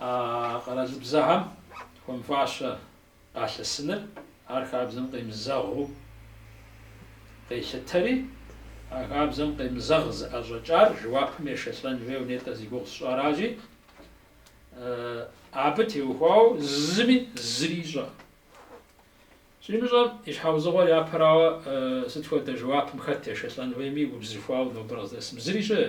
А къэралыбзэхэм хуэмыфащэ къалъысыныр, ар хабзэм къемызэгъыу къелъытэри, а хабзэм къемызэгъ зыӏэщӏэкӏар жэуапым ешэлӏэн хуейуэ нетӏэ зи гугъу сщӏаращи, абы теухуауэ зыми зыри ищӏэ. Щӏимыщӏэм и щхьэузыгъуэр япэрауэ сыт хуэдэ жэуапым хэт ешэлӏэн хуейми, убзыхуауэ нобэр къыздэсым зыри щыӏэ.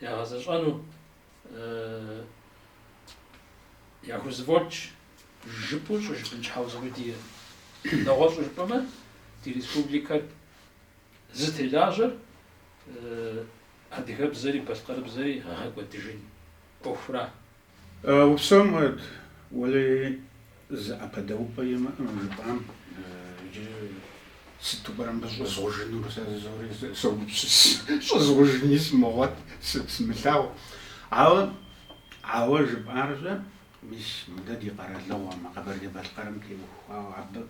ягъэзэщӏэну яхузэфӏокӏ жыпӏэу щӏыжыпӏэн щхьэузыгъуи диӏэ, нэгъуэщӏу жыпӏэмэ ди республикэр зытелажьэр адыгэбзэри балъкъэрыбзэри гъэкӏуэдыжын ӏуэхура? Упсэу Мурат, уэлей зы ӏэпэдэупӏэ имыӏэ мы жыпӏам, иджы сыту пӏэрэ мыбы щӏызгъужынур, сэ зыри согупсыс, щӏызгъужыни сымыгъуэт, сымылъагъу. Ауэ, ауэ жыпӏарщӏэ, мис мы дэ ди къэралыгъуэм, а Къэбэрдей-Балъкъэрым теухуауэ абы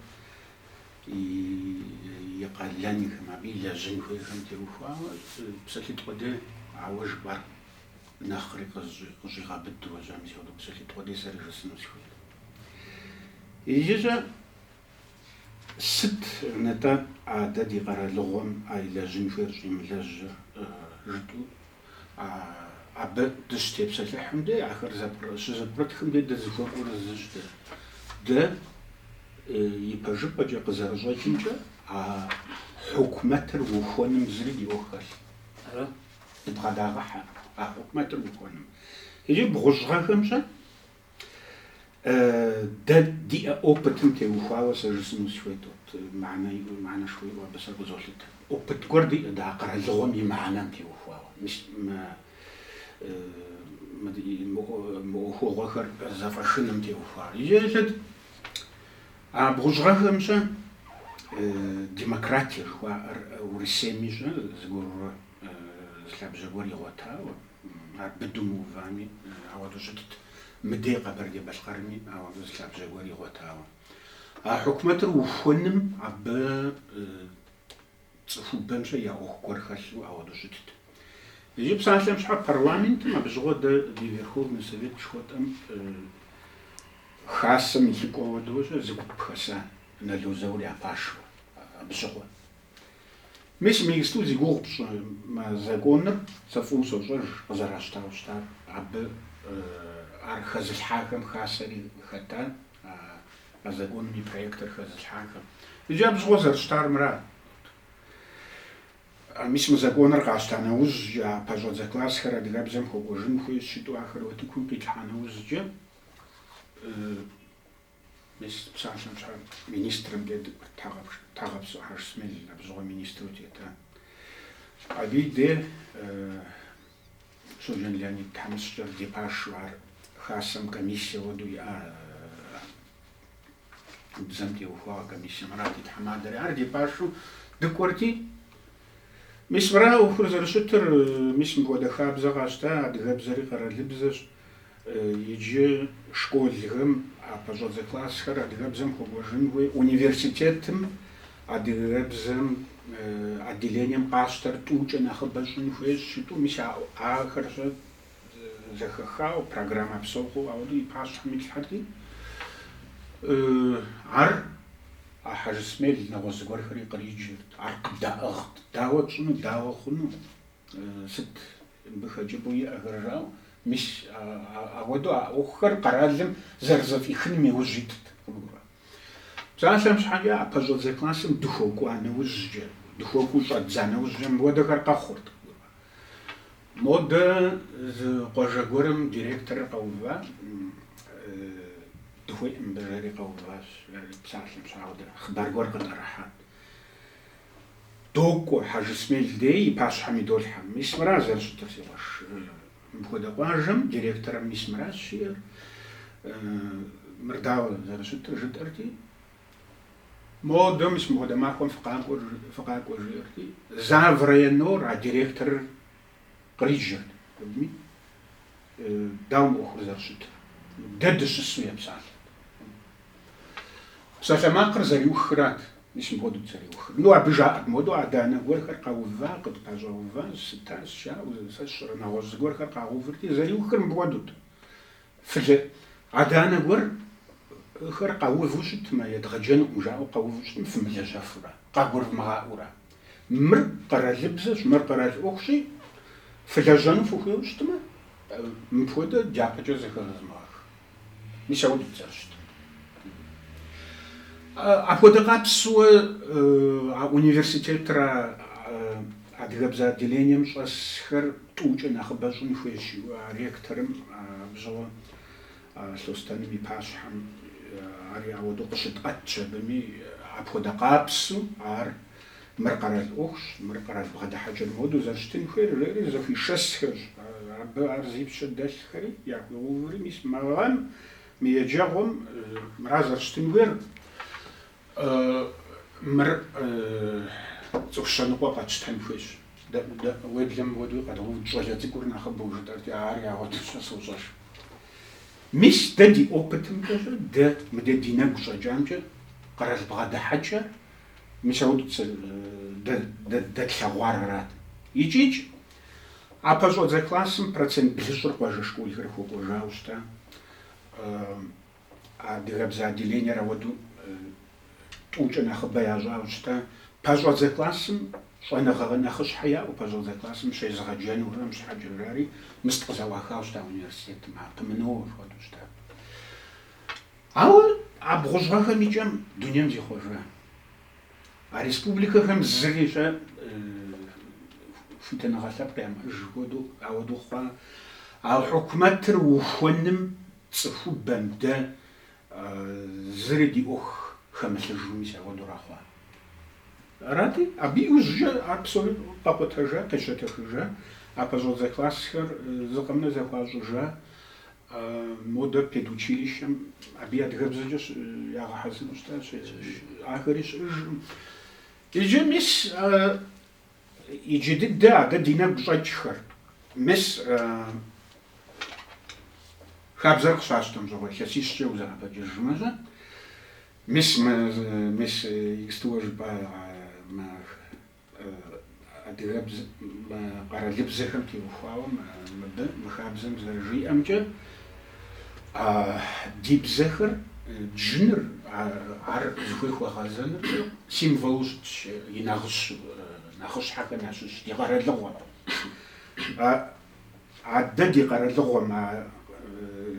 и къалэнхэм, абы илэжьын хуейхэм теухуауэ псалъитӏ къудей ауэ жыпӏар нэхъри къыщӏигъэбыд уэ щӏэм си къудыкъу сэлъыт къуэди сэри жысӏэну сыхуейт. Иджыщӏэ сыт нтӏэ а дэ ди къэралыгъуэм а илэжьын хуейр щӏимылэжьыр жытӏу абы дыщытепсэлъыхьым дей ахэр щызэпкърытхым дей дызыхуэкӏуэр зыщ дэ. Дэ ипэжыпӏэкӏэ къызэрыщӏэкӏымкӏэ а хьукумэтыр ухуэным зыри ди ӏуэху хэлъ. Дыбгъэдагъэхьэ а хьукумэтыр ухуэным. Иджы бгъущӏ гъэхэм щӏэ дэ диӏэ опытым теухуауэ сэ жысӏэну сыхуейт, вот мыхьэнэ иӏэу, мыхьэнэшхуэ иӏэу абы сэ къызолъытэ. Опыт гуэр диӏэ дэ а къэралыгъуэм и мыхьэнэм теухуауэ. Мис мы мы ӏуэхугъуэхэр зэфӏэшыным теухуауэ. Иджы еплъыт А бгъущӏ гъэхэм щӏэ демократие жыхуаӏэр Урысейми щӏэ зыгуэрурэ зы лъабжьэ гуэр игъуэтауэ, ар быдэу мыувами, ауэдэу щытт. Мыдей Къэбэрдей-Балъкъэрми ауэдэу зы лъабжьэ гуэр игъуэтауэ. А хьукумэтыр ухуэным абы Цӏыхубэм щӏэ я ӏуэху гуэр хэлъу ауэдэу щытт. Иджы псалъэм щхьэ парламентым абы щыгъуэ дэ ди Верховный Совет жыхуэтӏэм Хасэм и лӏыкӏуэ хуэдэу щӏэ зы гуп хэса Нало Заур я пашэу абы щыгъуэ. Мис мы исту зи гугъу пщӏы мы законыр, сэ фӏыуэ сощӏэж къызэращтауэ щытар, абы ар хэзылъхьахэм Хасэри хэта. А законым и проектыр хэзылъхьахэм иджы абзыгъуэ зэрыщытар мырат. Мис мы законыр къащта нэужь, а пэщӏэдзэ классхэр адыгэбзэм хуэкӏуэжын хуей щыту ахэр утыкум къилъхьа нэужькӏэ, мис псалъэм щхьэ министрым де дыкӏуэрт, Тхьэгъэпсо Хьэжсмел, абзыгъуэ министру тета. Абы и де Щоджэн Леонид тхьэмыщкӏэр ди пашэу ар Хасэм комиссие хуэдэу иӏа бзэм теухуауэ комиссие, мырат и тхьэмадэри ар ди пашэу дыкӏуэрти, мис мыра ӏуэхур зэрыщытыр, мис мыпхуэдэ хабзэ къащта, адыгэбзэри къэралыбзэщ. Иджы школхэм а пэщӏэдзэ классхэр адыгэбзэм хуэкӏуэжын хуей. Университетым адыгэбзэм отделением къащтэр тӏукӏэ нэхъыбэ щӏын хуей щыту мис ахэр щӏэ зэхэхауэ, программэ псо хъууэ ауэдэу и пащхьэм итлъхьэрти. Ар а Хьэжсмел нэгъуэщӏ зыгуэрхэри къриджырт, ар къыддаӏыгът, дауэ тщӏыну, дауэ хъуну, сыт Мыбы хэкӏыпӏэу иӏэхэр жаӏэу, мис ауэдэу а ӏуэхухэр къэралым зэрызэфӏихыным и ужь итт. Псалъэм щхьэкӏэ а пэщӏэдзэ классым дыхуэкӏуа нэужькӏэ, дыхуэкӏуэу щӏэддза нэужькӏэ мыпхуэдэхэр къэхъурт. Модэ зы къуажэ гуэрым директорыр къэува, дыхуеӏым мыбы жери къэуващ, псалъэм щхьэ ауэдэ хъыбар гуэр къытӏэрыхьат. Докӏуэ, Хьэжысмел дей и пащхьэм идолъхьэ. Мис мыра зэрыщытыр, си къуэш? Мыпхуэдэ къуажэм директорэм мис мыращ щиӏэр, мыр дауэ зэрыщытыр, жытӏэрти. Модэ, мис мыпхуэдэ махуэм фыкъакӏуэ, жи, фыкъакӏуэ, жиӏэрти. Заврайонор а директорыр. къриджэрти, дауэ мы ӏуэхур зэрыщытыр. Дэ дыщысу епсалъэрт. Псалъэмакъыр зэриухрат, мис мыпхуэдэут зэриухыр. Ну, абы жаӏэрт мыуэдэу, адэ-анэ гуэрхэр къэува, къытпэщӏэува, сыта, сща, сэ сщӏэрэ, нэгъуэщӏ зыгуэрхэр къагъэувырти, зэриухыр мыпхуэдэут. Ыы. Адэ-анэ гуэрхэр къэуву щытмэ, едгъэджэнукъым жаӏэу къэуву щытмэ, фымылэжьэфурэ, къагурывмыгъаӏуэурэ. Мыр къэралыбзэщ, мыр къэрал ӏуэхущи, фылэжьэну фыхуейуэ щытмэ, мыпхуэдэ дяпэкӏэ зэхэзмыгъэх. Мис ауэдут зэрыщытыр. Апхуэдэ къабзэу а университетра. Адыгэбзэ отделением щӏэсхэр тӏукӏэ нэхъыбэ щӏын хуейщ, жиӏэу а ректорым абы щыгъуэ Лъостэным и пащхьэм. Ари ауэдэу къыщытӏэтщ абыми. Апхуэдэ къабзэу ар мыр къэрал ӏуэхущ, мыр къэрал бгъэдыхьэкӏэр мыуэду зэрыщытын хуейр жери зэхуишэсхэщ. Абы ар зи пщэ дэлъхэри яхуигъэуври, мис мы гъэм, мы еджэгъуэм мыра зэрыщытын хуейр? Мыр цӏыху щэныкъуэ къэтщтэн хуейщ. Дэ уеблэмэ ауэдэуи къэдгъэувырт щӏалэ цӏыкӏур нэхъыбэу жытӏэрти, ар ягъуэту сэ сощӏэж. Мис дэ ди опытымкӏэщ, дэ мыдэ ди нэгу щӏэкӏамкӏэ къэрал бгъэдыхьэкӏэр мис ауэду дэ дэтлъэгъуар арат. Икӏи, икӏи, а пэщӏэдзэ классым процент блыщӏыр къуажэ школхэр хуэкӏуэжауэ щыта. Адыгэбзэ отделениер ауэдэу тӏукӏэ нэхъыбэ ящӏауэ щыта? Пэщӏэдзэ классым щӏэныгъэ нэхъыщхьэ яӏэу, пэщӏэдзэ классым щезыгъэджэнухэм щхьэкӏэ жари, мыст къызэӏуахауэ щыта университетым, ар къымынэуэ хуэдэу щыта. Ауэ а бгъущӏ гъэхэм и кӏэм дунейм зихъуэжа а республикэхэм зыри щӏэ хуитыныгъэ лъэпкъ ямыӏэж хуэдэу ауэдэу хъуа, а хьукумэтыр ухуэным Цӏыхубэм дэ зыри ди ӏуэху хэмылъыжу мис ауэдура хъуа. Арати, абы иужькӏэ абсолютно къэкъутэжа, къещэтэхыжа, а пэщӏэдзэ классхэр зы къэмынэу зэхуащӏыжа, модэ педучилищэм абы адыгэбзэкӏэ ягъэхьэзыру щытащ, ахэри щыӏэжкъым. Иджы мис Иджы дыдэ адэ ди нэгу щӏэкӏхэр. Мис хабзэр къыщащтэм щыгъуэ илъэсищкӏэ узэӏэбэкӏыжмэ-щэ. Мис мы, мис иджысту жыпӏа мы адыгэбз, мы къэралыбзэхэм теухуауэ мыбы, мы хабзэм зэрыжиӏэмкӏэ, А ди бзэхэр джыныр, ар зыхуей хуэгъэзэныр символу щытщ, и нагъыщэ нэхъыщхьэхэм ящыщ ди къэралыгъуэм. Адэ ди къэралыгъуэм, а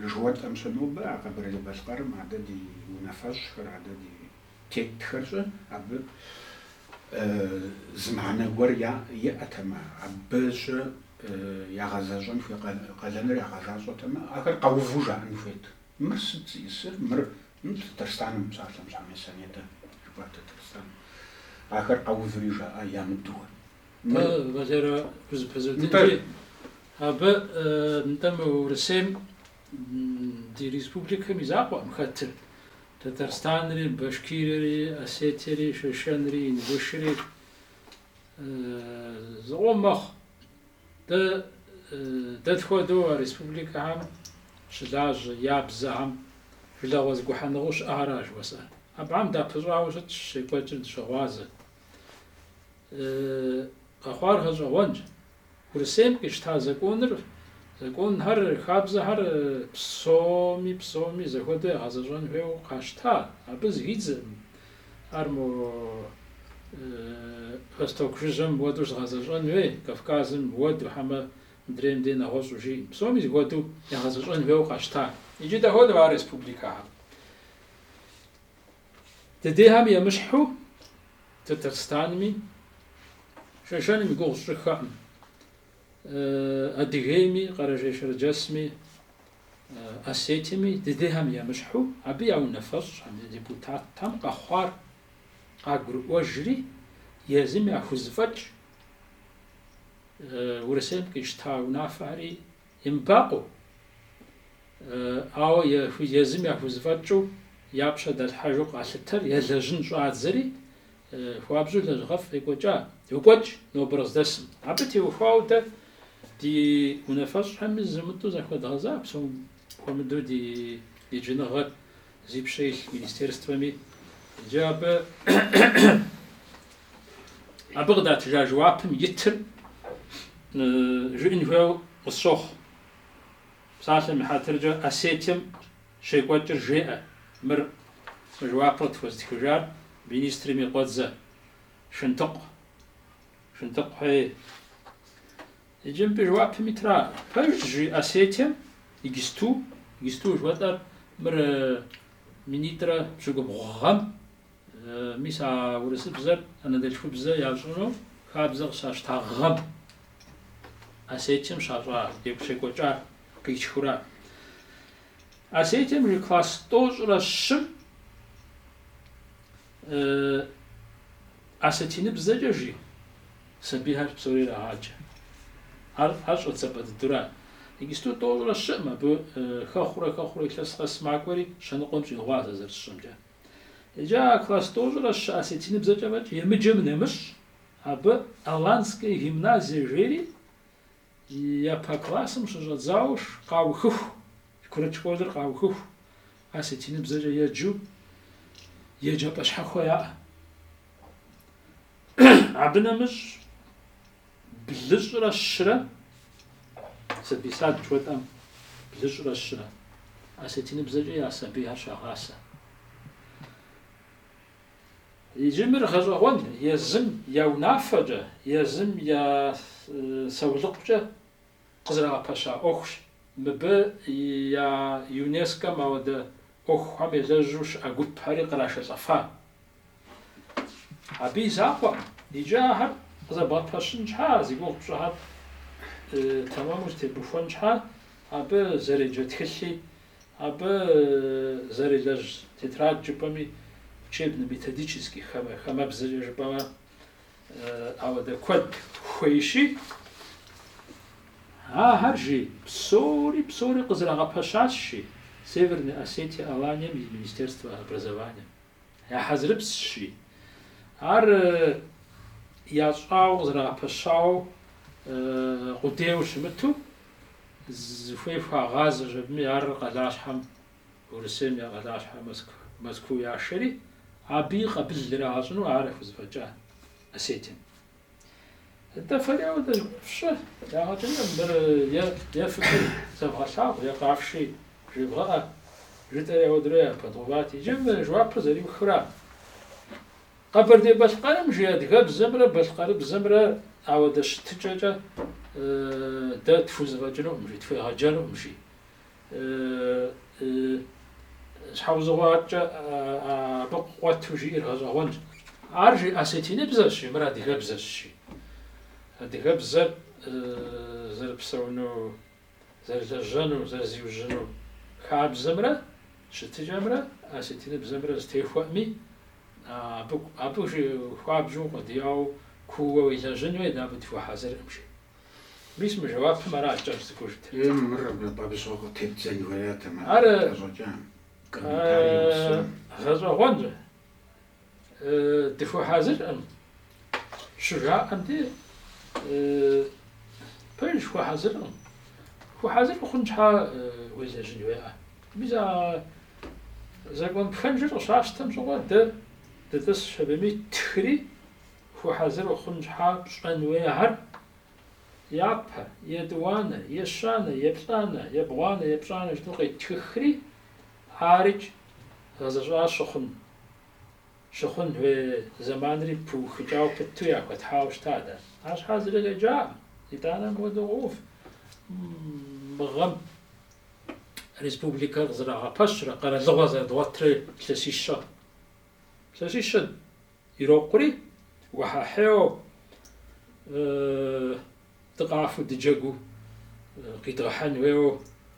жыхуэтӏэм щэ нобэ, а Къэбэрдей-Балъкъэрым адэ ди унафэщӏхэр, адэ ди. Тетхэр щэ, абы зы мыхьэнэ гуэр иӏэтэмэ, абы щэ ягъэзэщӏэн хуей къалэныр ягъэзащӏэтэмэ, ахэр къэуву жаӏэн хуейт. Мыр сыт зиӏысыр? Мыр Татарстаным, псалъэм щхьэ мис а нетӏэ жыпӏа Татарстаным. Ахэр къэуври жаӏа ямыдэуэ. Мыр Валерэ узэпызудынри, абы нтӏэ мы Урысейм Ди республикэм и закъуэкъым хэтыр Татарстанри, Башкирири, Осетиери, Шэшэнри, Ингушри. Зыкъом мэхъу. Дэ, дэ тхуэдэу а республикэхэм щылажьэ, я бзэхэм жылэгъуэ зэгухьэныгъэу щыӏэхэращ жыхуэсӏэр. Абыхэм дапыщӏауэ щытщ, щекӏуэкӏыр дыщыгъуазэщ. Къэхъуар гъэщӏэгъуэнщ. Урысейм къищта законыр, законхэр, хабзэхэр псоми, псоми зэхуэдэу ягъэзэщӏэн хуейуэ къащта, абы зыхидзэркъым. Ар мо Восток жыжьэм уэду щыгъэзэщӏэн хуей, Кавказым уэду, хьэмэ мыдрейм дей нэгъуэщӏу жиӏэм. Псоми зэхуэдэу ягъэзэщӏэн хуейуэ къащта. Иджы дэ хуэдэу а республикэхэм. Дыдейхэм емыщхьу Татарстанми, Шэшэным и гугъу сщӏыххэкъым, Адыгейми, Къэрэжей-Шэрджэсми, Осетиеми, дыдейхэм емыщхьу, абы я унафэщӏхэм, я депутатхэм къэхъуар къагурыӏуэжри, езым яхузэфӏэкӏ Урысейм къищта унафэхэри Емыбакъуэу, ауэ езым яхузэфӏэкӏыу я пщэ далъхьэжу къалъытэри елэжьын щӏадзэри, хуабжьу лэжьыгъэфӏ екӏуэкӏа. Йокӏуэкӏ нобэр къыздэсым. Абы теухуауэ дэ ди унафэщӏхэми зэмытӏэу захуэдгъэза псом хуэмыдэу ди еджэныгъэр зи пщэ илъ министерствэми иджы абы абы къыдатыжа жэуапым итыр жыӏын хуейуэ къысщохъу. Псалъэм и хьэтыркӏэ Осетием щекӏуэкӏыр жеӏэ. Мыр мы жэуапыр къытхуэзытхыжар министрым и къуэдзэ Шынтыкъу. Шынтыкъу хьей. Иджы мыбы жэуапым итра? Пэжщ жи Осетием иджыпсту, иджыпсту жыхуэтӏэр мыр минитӏрэ пщыкӏубгъу гъэм, мис а урысыбзэр анэдэлъхубзэ ящӏыну хабзэ къыщащта гъэм, Осетием щащӏа екӏу щекӏуэкӏа къитхыура. Осетием жи класс тӏощӏрэ щым Э, осетиныбзэкӏэ жи? Сабийхэр псори ирагъаджэ. Ар ар щӏэдзапӏэ дыдура? Иджыпсту тӏощӏрэ щыӏым абы э, хэхъурэ хэхъурэ илъэс къэс макӏуэри щэныкъуэм щӏигъуа сэ зэрысщӏэмкӏэ. Иджы а класс тӏощӏрэ щы осетиныбзэкӏэ фӏэкӏ емыджэм нэмыщӏ абы Аланская гимназия жери Япэ классым щыщӏэдзауэ къаухыху, курыт школыр къаухыху, осетиныбзэкӏэ еджэу, еджапӏэ щхьэхуэ яӏэ. Абы нэмыщӏ блыщӏрэ щырэ, сабий сад жыхуэтӏэм, блыщӏрэ щырэ, осетиныбзэкӏэ я сабийхэр щагъасэ. Иджы мыр гъэщӏэгъуэн езым я унафэкӏэ, езым я саулыкъукӏэ къызэрагъэпэща ӏуэхущ. Мыбы я ЮНЕСКО-м ауэдэ ӏуэхухэм елэжьу щыӏэ гупхэри кърашэлӏэфа. Абы и закъуэм, иджы ахэр къызэбгъэпэщын щхьа, зи гугъу пщӏыхэр тэмэму зэтебухуэн щхьа, абы зэреджэ тхылъи Абы зэрелэжь тетрад жыпӏэми учебно-методический хамэ, хамэбзэкӏэ жыпӏэмэ, ауэдэ куэд хуейщи, ахэр жи псори псори къызэрагъэпэщащ жи Северной Осетие Аланием и Министерство образование. Я хьэзырыпсщи, ар ящӏауэ къызэрагъэпэщауэ къудейуэ щымыту, зыхуей хуагъазэщ абыми ар къалащхьэм, Урысейм я къалащхьэ Мэзкуу яшэри, абы и къабыл ирагъэщӏыну ар яхузэфӏэкӏа Осетием. Атӏэ фэри ауэдэ фщӏы, дагъэдэмэ, мыр е фыкӏуи зэвгъэлъагъу, е къафши жевгъэӏэ, жытӏэри ауэдрэ япэдгъэуват. Иджы мы жэуапыр зэриухра, Къэбэрдей-Балъкъэрым жи адыгэбзэмрэ балъкъэрыбзэмрэ ауэдэ щытыкӏэкӏэ дэ тхузэфӏэкӏынукъым жи, тхуегъэджэнукъым жи. Щхьэусыгъуэкӏэ абы къуэту жиӏэр гъэщӏэгъуэнщ. Ар жи осетиныбзэщи, мыр адыгэбзэщи. Адыгэбзэр зэрыпсэуну, зэрылэжьэну, зэрызиужьыну хабзэмрэ щытыкӏэмрэ осетиныбзэмрэ зэтехуэӏыми, абы абы хуабжьу укъуэдияуэ, куууэ уелэжьын хуейт, абы дыхуэхьэзыркъым, жи. Мис мы жэуапым аращ кӏэщӏ цӏыкӏужт. Е нумырыр абы абыщӏэу къытепдзэн хуеят а махуэр Ар къыщӏэкӏам, комментарий гъусэм. гъэщӏэгъуэнщ. Дыхуэхьэзыркъым щыжаӏэм де, пэжщ, хуэхьэзыркъым. Хуэхьэзыр ухъун щхьа уелэжьын хуеӏэ. Мис а закон пхэнжыр къыщащтэм щыгъуэ дэ дытӏысщ абыми, ттхри Хуэхьэзыр ухъун щхьа пщӏэн хуейхэр япэ, етӏуанэ, ещанэ, еплӏанэ, ебгъуанэ, епщӏанэ жытӏэу къеттхыхри, ар икӏи гъэзэщӏа щыхъун, щыхъун хуей зэманри пыухыкӏауэ пыту яхуэтхьауэ щыта дэ? Арщхьэкӏэ зыри къеджакъым. Итӏанэ мыпхуэдэу къоув мы гъэм республикэр къызэрагъэпэщрэ къэралыгъуэр зэрыдгъуэтрэ илъэсищэ. Илъэсищэ. Ирокъури, уэхьэхьейуэ дыкъафу дыджэгуу къидгъэхьэн хуейуэ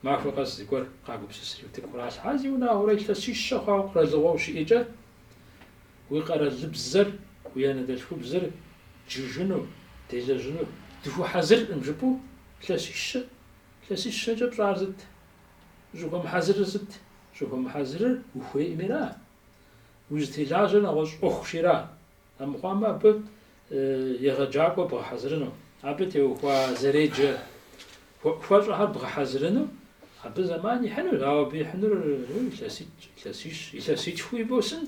махуэ къэс зыгуэр къагупсысри утыку къралъхьа, зиунагъуэрэ илъэсищэ хъуауэ къэралыгъуэу щыӏэкӏэ, уи къэралыбзэр, уи анэдэлъхубзэр джыжыну, делэжьыну дыхуэхьэзыркъым жыпӏэу илъэсищэ, илъэсищэкӏэ пщӏар сыт, ущӏыхуэмыхьэзырыр сыт? Щӏыхуэмыхьэзырыр ухуейкъыми ара? Узытелажьэр нэгъуэщӏ ӏуэхущи ара? Амыхъуамэ, абы егъэджакӏуэ бгъэхьэзырыну, абы теухуа зэреджэ хуэӏухуэщӏэхэр бгъэхьэзырыну абы зэман ихьынущ, ауэ абы ихьынур илъэситӏщ, илъэсищ, илъэситхуи босын.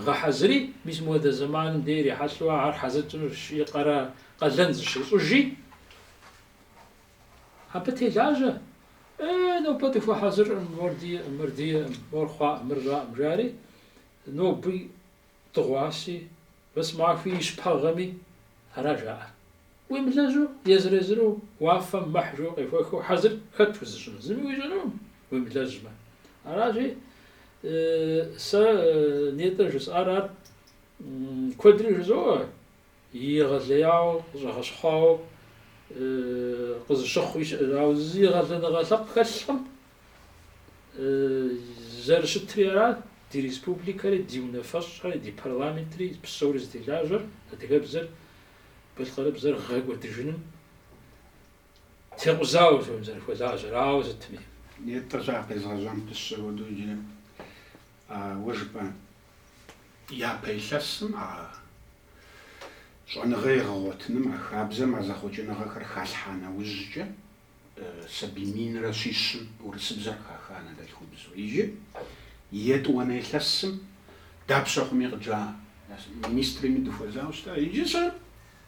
Гъэхьэзыри, мис мыуэдэ зэманым дэ ирихьэлӏэу ахэр хьэзыр тщӏынущи, къэрал къалэн зыщыщӏыжи. Абы телажьэ, Э, нобэ дыхуэхьэзыркъым, мор диӏэкъым, мыр диӏэкъым, мор хъуакъым, мыр щӏакъым, жари, ноби дыгъуаси, вэсмахуи ищ пэгъэми, ара жаӏэр. Уемылэжьу, езыр-езыру уафэм мыхь жыу къехуэхыу хьэзыр хэт узыщӏын, зыми уищӏынукъым, уемылэжьмэ. Аращи, сэ нетӏэ жысӏар ар куэдри жызоӏэ. Егъэлеяуэ къыщӏэгъэщхъуауэ къызыщыхъуи щыӏэщ. Ауэ зы егъэлеиныгъэ лъэпкъ хэлъкъым, зэрыщытри арат ди республикэри, ди унафэщӏхэри, ди парламентри, псори зытелажьэр, адыгэбзэр, балъкъэрыбзэр гъэкӏуэдыжыным текъузауэ жыпӏэм зэрыхуэлажьэр. Ауэ сытми. Итӏанэ къезгъэжьам пысщэ хуэдэу иджыри а уэ жыпӏа Япэ илъэсым а щӏэныгъэ егъэгъуэтыным, а хабзэм а зэхъуэкӏыныгъэхэр халъхьа нэужькӏэ, сабий минрэ щищым урысыбзэр хаха анэдэлъхубзу. Иджы етӏуанэ илъэсым дапщэ хъуми къыджа министрми дыхуэзауэ щыта. Иджы сэ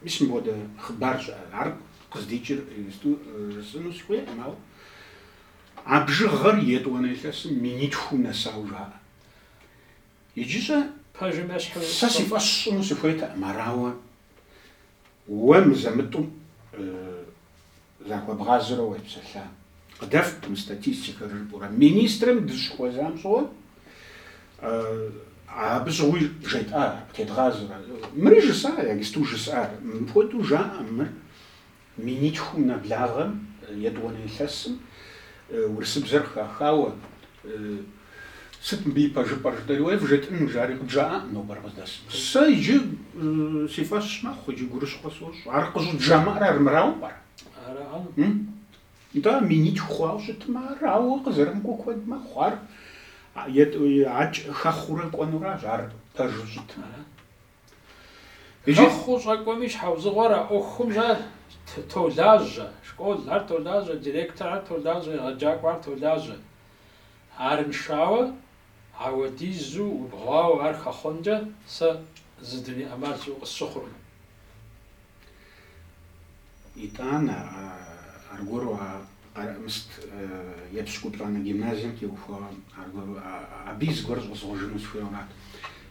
мис мыбгъуэдэ хъыбар щыӏэ, ар къыздикӏыр иджысту жысӏэну сыхуейкъым, ауэ а бжыгъэр етӏуанэ илъэсым минитхум нэсауэ жаӏэ. Иджы щӏэ пэжым ещхьу сэ си фӏэщ сщӏыну сыхуейтэкъым, ар, ауэ уэ мызэ-мытӏу захуэбгъазэрэ уепсэлъа. Къыдэфт мы статистикэр жыпӏэурэ, министрым дыщыхуэзам щыгъуэ абы щыгъуи жетӏар, къытедгъазэрэ. Мыр иджы сэ иджысту жысӏар, мыпхуэдэу жаӏэ, мыр Минитхум нэблагъэм, етӏуанэ илъэсым, урысыбзэр хахауэ, Сыт мыбы и пэжыпӏэр? жытӏэри, уей, вжетӏэн, жари къыджаӏакъым нобэр къыздэсым. Сэ иджы си фӏэщ мэхъу, иджы гурыщхъуэ сощӏ. Ар къыщӏыджамыӏэр армырауэ пӏэрэ? Нтӏэ, минитху хъуауэ щытмэ, ар ауэ къызэрымыкӏуэу куэд мэхъу. Ар етӏуи, акӏ хэхъуурэ кӏуэнуращ, ар пэжу щытмэ. Хэхъуу щӏэкӏуэми щхьэусыгъуэр а ӏуэхум толажьэ, школ, ар толажьэ, директор, ар толажьэ, егъэджакӏуэ, ар толажьэ. Арыншауэ, ауэдизу убгъуауэ ар хэхъункӏэ сэ зы дуней ӏэмал щыӏэу къысщыхъуркъым. Итӏанэ, аргуэру а Къэрэӏмыст епщыкӏуплӏанэ гимназием теухуауэ аргуэру абы и зыгуэр щӏызгъужыну сыхуейуэ арат.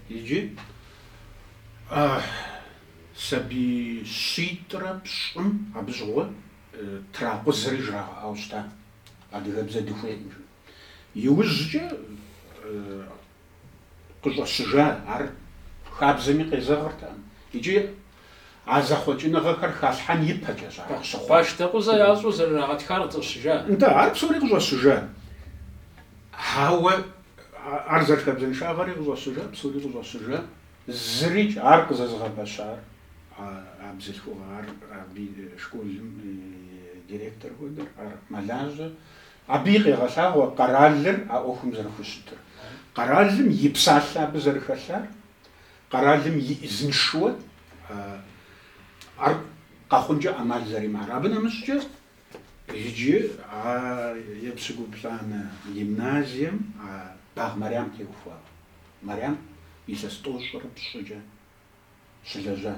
Иджы сабий щитӏрэ пщӏым абы щыгъуэ тракъузэри жрагъэӏауэ щыта, адыгэбзэ дыхуейкъым жыпӏэу. Иужькӏэ къыщӏэщыжа ар хабзэми къезэгъыртэкъым икӏи а зэхъуэкӏыныгъэхэр халъхьэн ипэкӏэщ ар къыщыхъуар. Къуаштэкъузэ ящӏу зэрырагъэтхар къыщӏэщыжа? Нтӏэ, ар псори къыщӏэщыжа. Ауэ ар зэрыхабзэншагъэри къыщӏэщыжа, псори къыщӏэщыжа, зырикӏ ар къызэзыгъэпэщар а бзылъхугъэ, ар абы и школым и директор хуэдэр, ар мэлажьэ, Абы и къегъэлъагъуэ къэралыр а ӏуэхум зэрыхущытыр, къэралым и псалъэ абы зэрыхэлъар, къэралым и ӏизыншэуэ ар къэхъункӏэ ӏэмал зэримыӏар. Абы нэмыщӏкӏэ иджы а епщыкӏуплӏанэ гимназием Багъ Мэрям теухуауэ. Мэрям илъэс тӏощӏрэ пщӏыкӏэ. щылэжьа.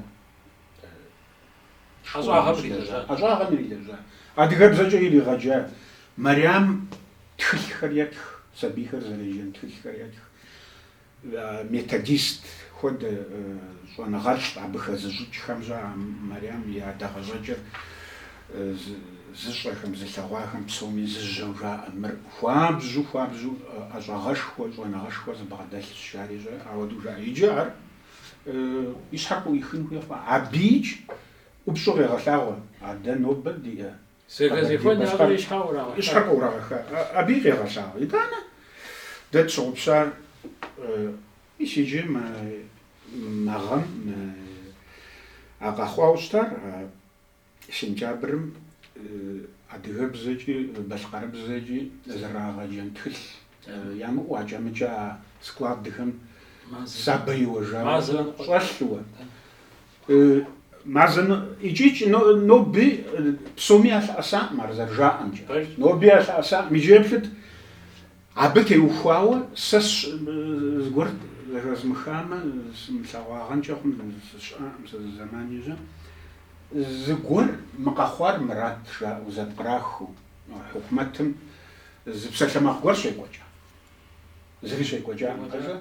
ӏэщӏагъэм ирилэжьа. Адыгэбзэкӏэ иригъэджа. Мэрям тхылъхэр етх, сабийхэр зэреджэн тхылъхэр етх. Методист хуэдэ щӏэныгъэлӏ абы хэзыщӏыкӏхэм-щэ Мэрям и адэгъэщӏэкӏыр зыщӏэхэм, зылъэгъуахэм псоми зыжьэу жаӏэ. Мыр хуабжьу, хуабжьу ӏэщӏагъэшхуэ, щӏэныгъэшхуэ зыбгъэдэлъщ, жари-щэ, ауэдэу жаӏэ. Иджы ар. и щхьэр къыӏуихын хуей хъуа? Абыич ӏупщӏу къегъэлъагъуэ, а дэ нобэ диӏэ и щхьэр къыӏурагъэха? Абыи къегъэлъагъуэ. Итӏанэ дэ тщыгъупщар мис иджы мы гъэм а къэхъуауэ щытар, а Сентябрым адыгэбзэкӏи балъкъэрыбзэкӏи зэрагъэджэн тхылъ ямыӏэу акӏэ-мыкӏэ складхэм сабэ иуэжауэ щӏэлъууэ, мазэ икӏикӏ ноби псоми ялъэӏэсаӏым ар зэрыжаӏэмкӏэ. Ноби ялъэӏэсаӏым. Иджы еплъыт, Абы теухуауэ сэ зыгуэр зэхэзмыхамэ, сымылъэгъуагъэнкӏэ хъун, сыщыӏаӏым сэ зы зэмани-щэ. Зыгуэр мы къэхъуар мырат жаӏэу зэпкърахыу, хьукумэтым зы псалъэмакъ гуэр щекӏуэкӏа. Зыри щекӏуэкӏакъым, къэзэ.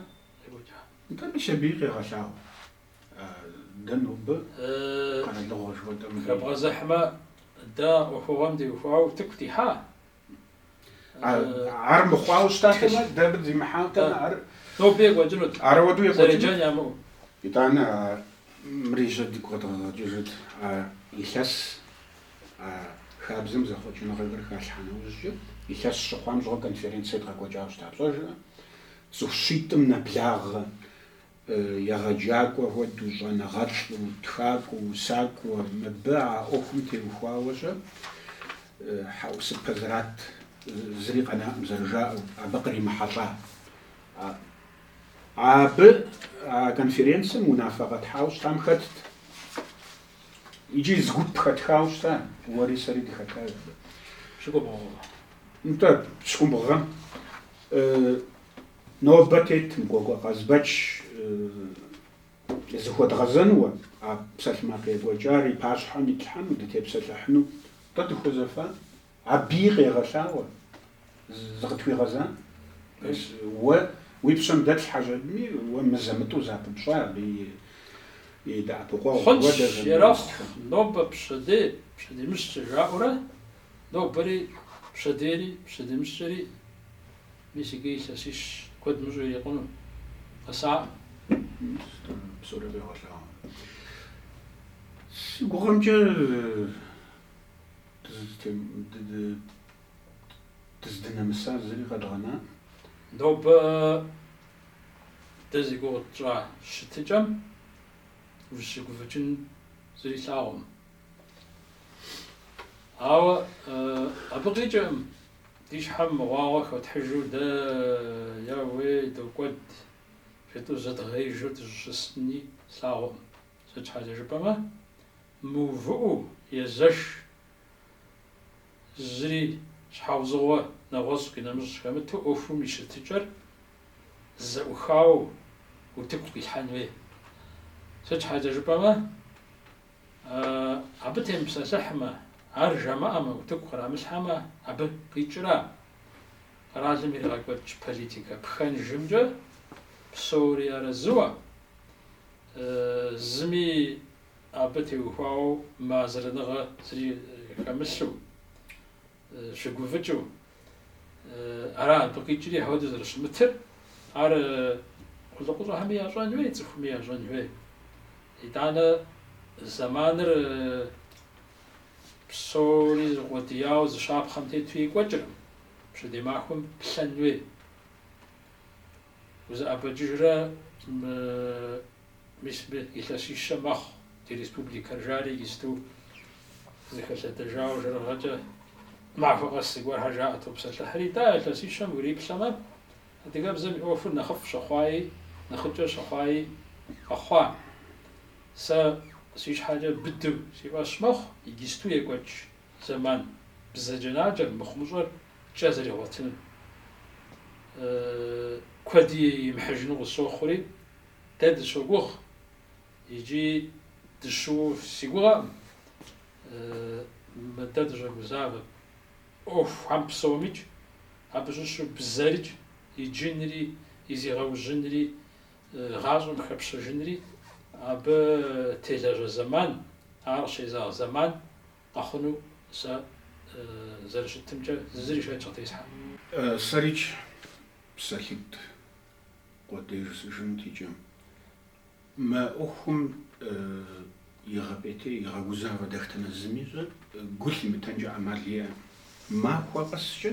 Нтӏэ, мис абыи къегъэлъагъуэ. Дэ нобэ къэралыгъуэ жыхуэтӏэм. Хэбгъэзыхьмэ, дэ ӏуэхугъуэм теухуауэ утыку дихьа? Ар мыхъуауэ щытатэмэ, дэ зимыхьатэмэ, ар ноби екӏуэкӏынут. Арауэдэу екӏуэкӏынут. Зэреджэн ямыӏэу. Итӏанэ мыри-щэ дигу къэдгъэгъэкӏыжыт а илъэс хабзэм зэхъуэкӏыныгъэхэр халъхьа нэужькӏэ. Илъэс щыхъуам щыгъуэ конференц едгъэкӏуэкӏауэ щыта пщӏэжрэ? Цӏыху щитӏым нэблагъэ егъэджакӏуэ хуэдэу, щӏэныгъэлӏу, тхакӏуэу, усакӏуэ, мыбы а ӏуэхум теухуауэ-щэ, хьэӏусыпэ зэрат, зыри къэнаӏым зэрыжаӏэу, абы къримыхьэлӏа. Абы а конференцэм унафэ къэтхьауэ щытам хэтт, икӏи зы гуп хэтхауэ щыта, уэри сэри дыхэтащ абы. Пщыкӏубгъу гъэ. Нтӏэ, пщыкӏубгъу гъэм Нобэ тетым Кӏуэкӏуэ Къазбэч зыхуэдгъэзэнуэ, а псалъэмакъ екӏуэкӏар и пащхьэм итлъхьэну, дытепсэлъыхьыну. Тӏэ дыхуэзэфа? Абыи къегъэлъагъуэ, зыкъытхуигъэза? Мис уэ уи пщэм дэтлъхьэжами, уэ мызэ-мытӏу зыпыпщӏа абы и дэӏэпыкъуэгъу, уэ дэ Хъунщ, ерэхъу, журналистхэм. нобэ пщэдей, пщэдемыщкӏэ жаӏэурэ, нобэри пщэдейри, пщэдемыщкӏэри Мис иджы илъэсищ куэд мыщӏу ирикъуну къэсакъым. Мис дэнэ псори къегъэлъагъуэ. Си гугъэмкӏэ дыздынэмыса зыри къэдгъэнаӏым. Нобэ дэ зи гугъу тщӏа щытыкӏэм ущыгуфӏыкӏын зыри лъагъуэкъым. Ауэ абы къикӏыркъым Ди щхьэм мыгъуагъуэ хотхьыжу дэ я уей докӏуэд, жытӏэу зыдгъеижу дыщӏыщысыни слъагъуӏым. Сыт щхьэкӏэ жыпӏэмэ, мыувыӏэу езэш, зыри щхьэузыгъуэ нэгъуэщӏ къинэмыщӏ хэмыту ӏуэхум и щытыкӏэр зэӏухауэ утыку къилъхьэн хуей. Сыт щхьэкӏэ жыпӏэмэ, Абы темыпсэлъыхьмэ, ар жамыӏэмэ, утыку кърамылъхьэмэ, абы къикӏра? Къэралым иригъэкӏуэкӏ политикэ пхэнжымкӏэ псори арэзыуэ, зыми абы теухуауэ мыарэзыныгъэ зыри хэмылъу. щыгуфӏыкӏыу ара абы къикӏри ахуэдэу зэрыщымытыр, ар къулыкъущӏэхэми ящӏэн хуей, цӏыхуми ящӏэн хуей. Итӏанэ зэманыр псори зыкъуэдияуэ зы щапхъэм тету екӏуэкӏыркъым, пщэдей махуэм плъэн хуей. Узыӏэбэкӏыжрэ мис илъэсищэ мэхъу ди республикэр, жари иджысту зыхэлъэдэжауэ жэрыгъэкӏэ махуэ къэс зыгуэрхэр жаӏэ топсэлъыхьри, тӏэ а илъэсищэм уриплъэмэ, адыгэбзэм и ӏуэхур нэхъыфӏ щыхъуаи, нэхъыкӏэ щыхъуаи къэхъуа. Сэ си щхьэкӏэ быдэу си фӏэщ мэхъу, иджысту екӏуэкӏ. зэман бзаджэнаджэр, мыхъумыщӏэр кӏэ зэригъуэтынум куэди имыхьыжыну къысщохъури, дэ дыщогугъ икӏи дыщыу си гугъэкъым мы дэ дыщӏэгузавэ ӏуэхухэм псомикӏ, абы щыщу бзэрыкӏ иджынри и зегъэужьынри гъащӏэм хэпщэжынри абы телэжьэ зэман, ар къыщезэгъ зэман. Къэхъуну сэ зэрыщытымкӏэ зыри шэч къытесхьэкъым. Сэрикӏ псалъитӏ къуэдей жысӏэжынт иджы. Мы ӏуэхум игъэпӏейтей, игъэгузавэ дэхтэнэ зыми ещӏэр, гу лъимытэнкӏэ ӏэмал иӏэкъым. Махуэ къэскӏэ,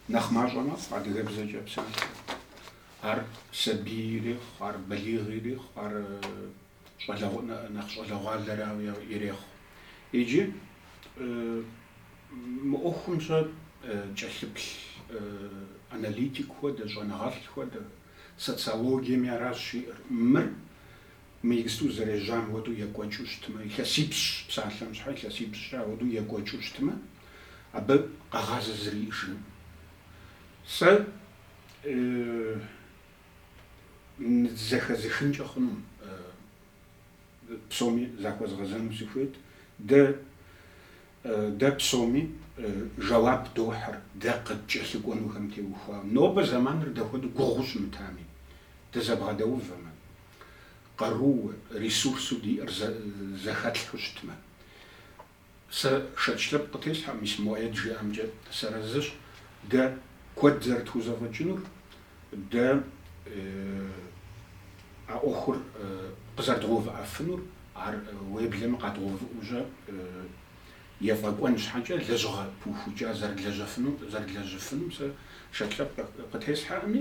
нэхъ мащӏэ мэхъу адыгэбзэкӏэ псалъэр. Ар сабий ирехъу, ар балигъ ирехъу, ар нэхъ щӏалэгъуалэрауи ирехъу. Иджы мы ӏуэхум сэ кӏэлъыплъ аналитик хуэдэ, щӏэныгъэлӏ хуэдэ, социологиеми аращ жиӏэр. Мыр мы иджысту зэрежьам хуэдэу екӏуэкӏыу щытмэ, илъэсипщӏ, псалъэм щхьэ илъэсипщӏкӏэ ауэдэу екӏуэкӏыу щытмэ, абы къэгъазэ зыри иӏэжынкъым. Сэ зэхэзыхынкӏэ хъуну, псоми захуэзгъэзэну сыхуейт. Дэ, дэ псоми жэуап дохьыр, дэ къыткӏэлъыкӏуэнухэм теухуауэ. Нобэ зэманыр дапхуэдэу гугъуу щымытами, дызэбгъэдэувэмэ, къарууэ, ресурсу диӏэр зэхэтлъхьэу щытмэ, Сэ шэч лъэпкъ къытесхьэкъым, мис Муӏэед жиӏэмкӏэ сэрэзыщ дэ куэд зэрытхузэфӏэкӏынур, дэ а ӏуэхур къызэрыдгъэувыӏэфынур, ар уеблэмэ къэдгъэувыӏэу щӏэ ефӏэкӏуэн щхьэкӏэ лэжьыгъэ пыухукӏа зэрыдлэжьэфыну, зэрыдлэжьыфыну сэ шэч лъэпкъ къытесхьэкъыми,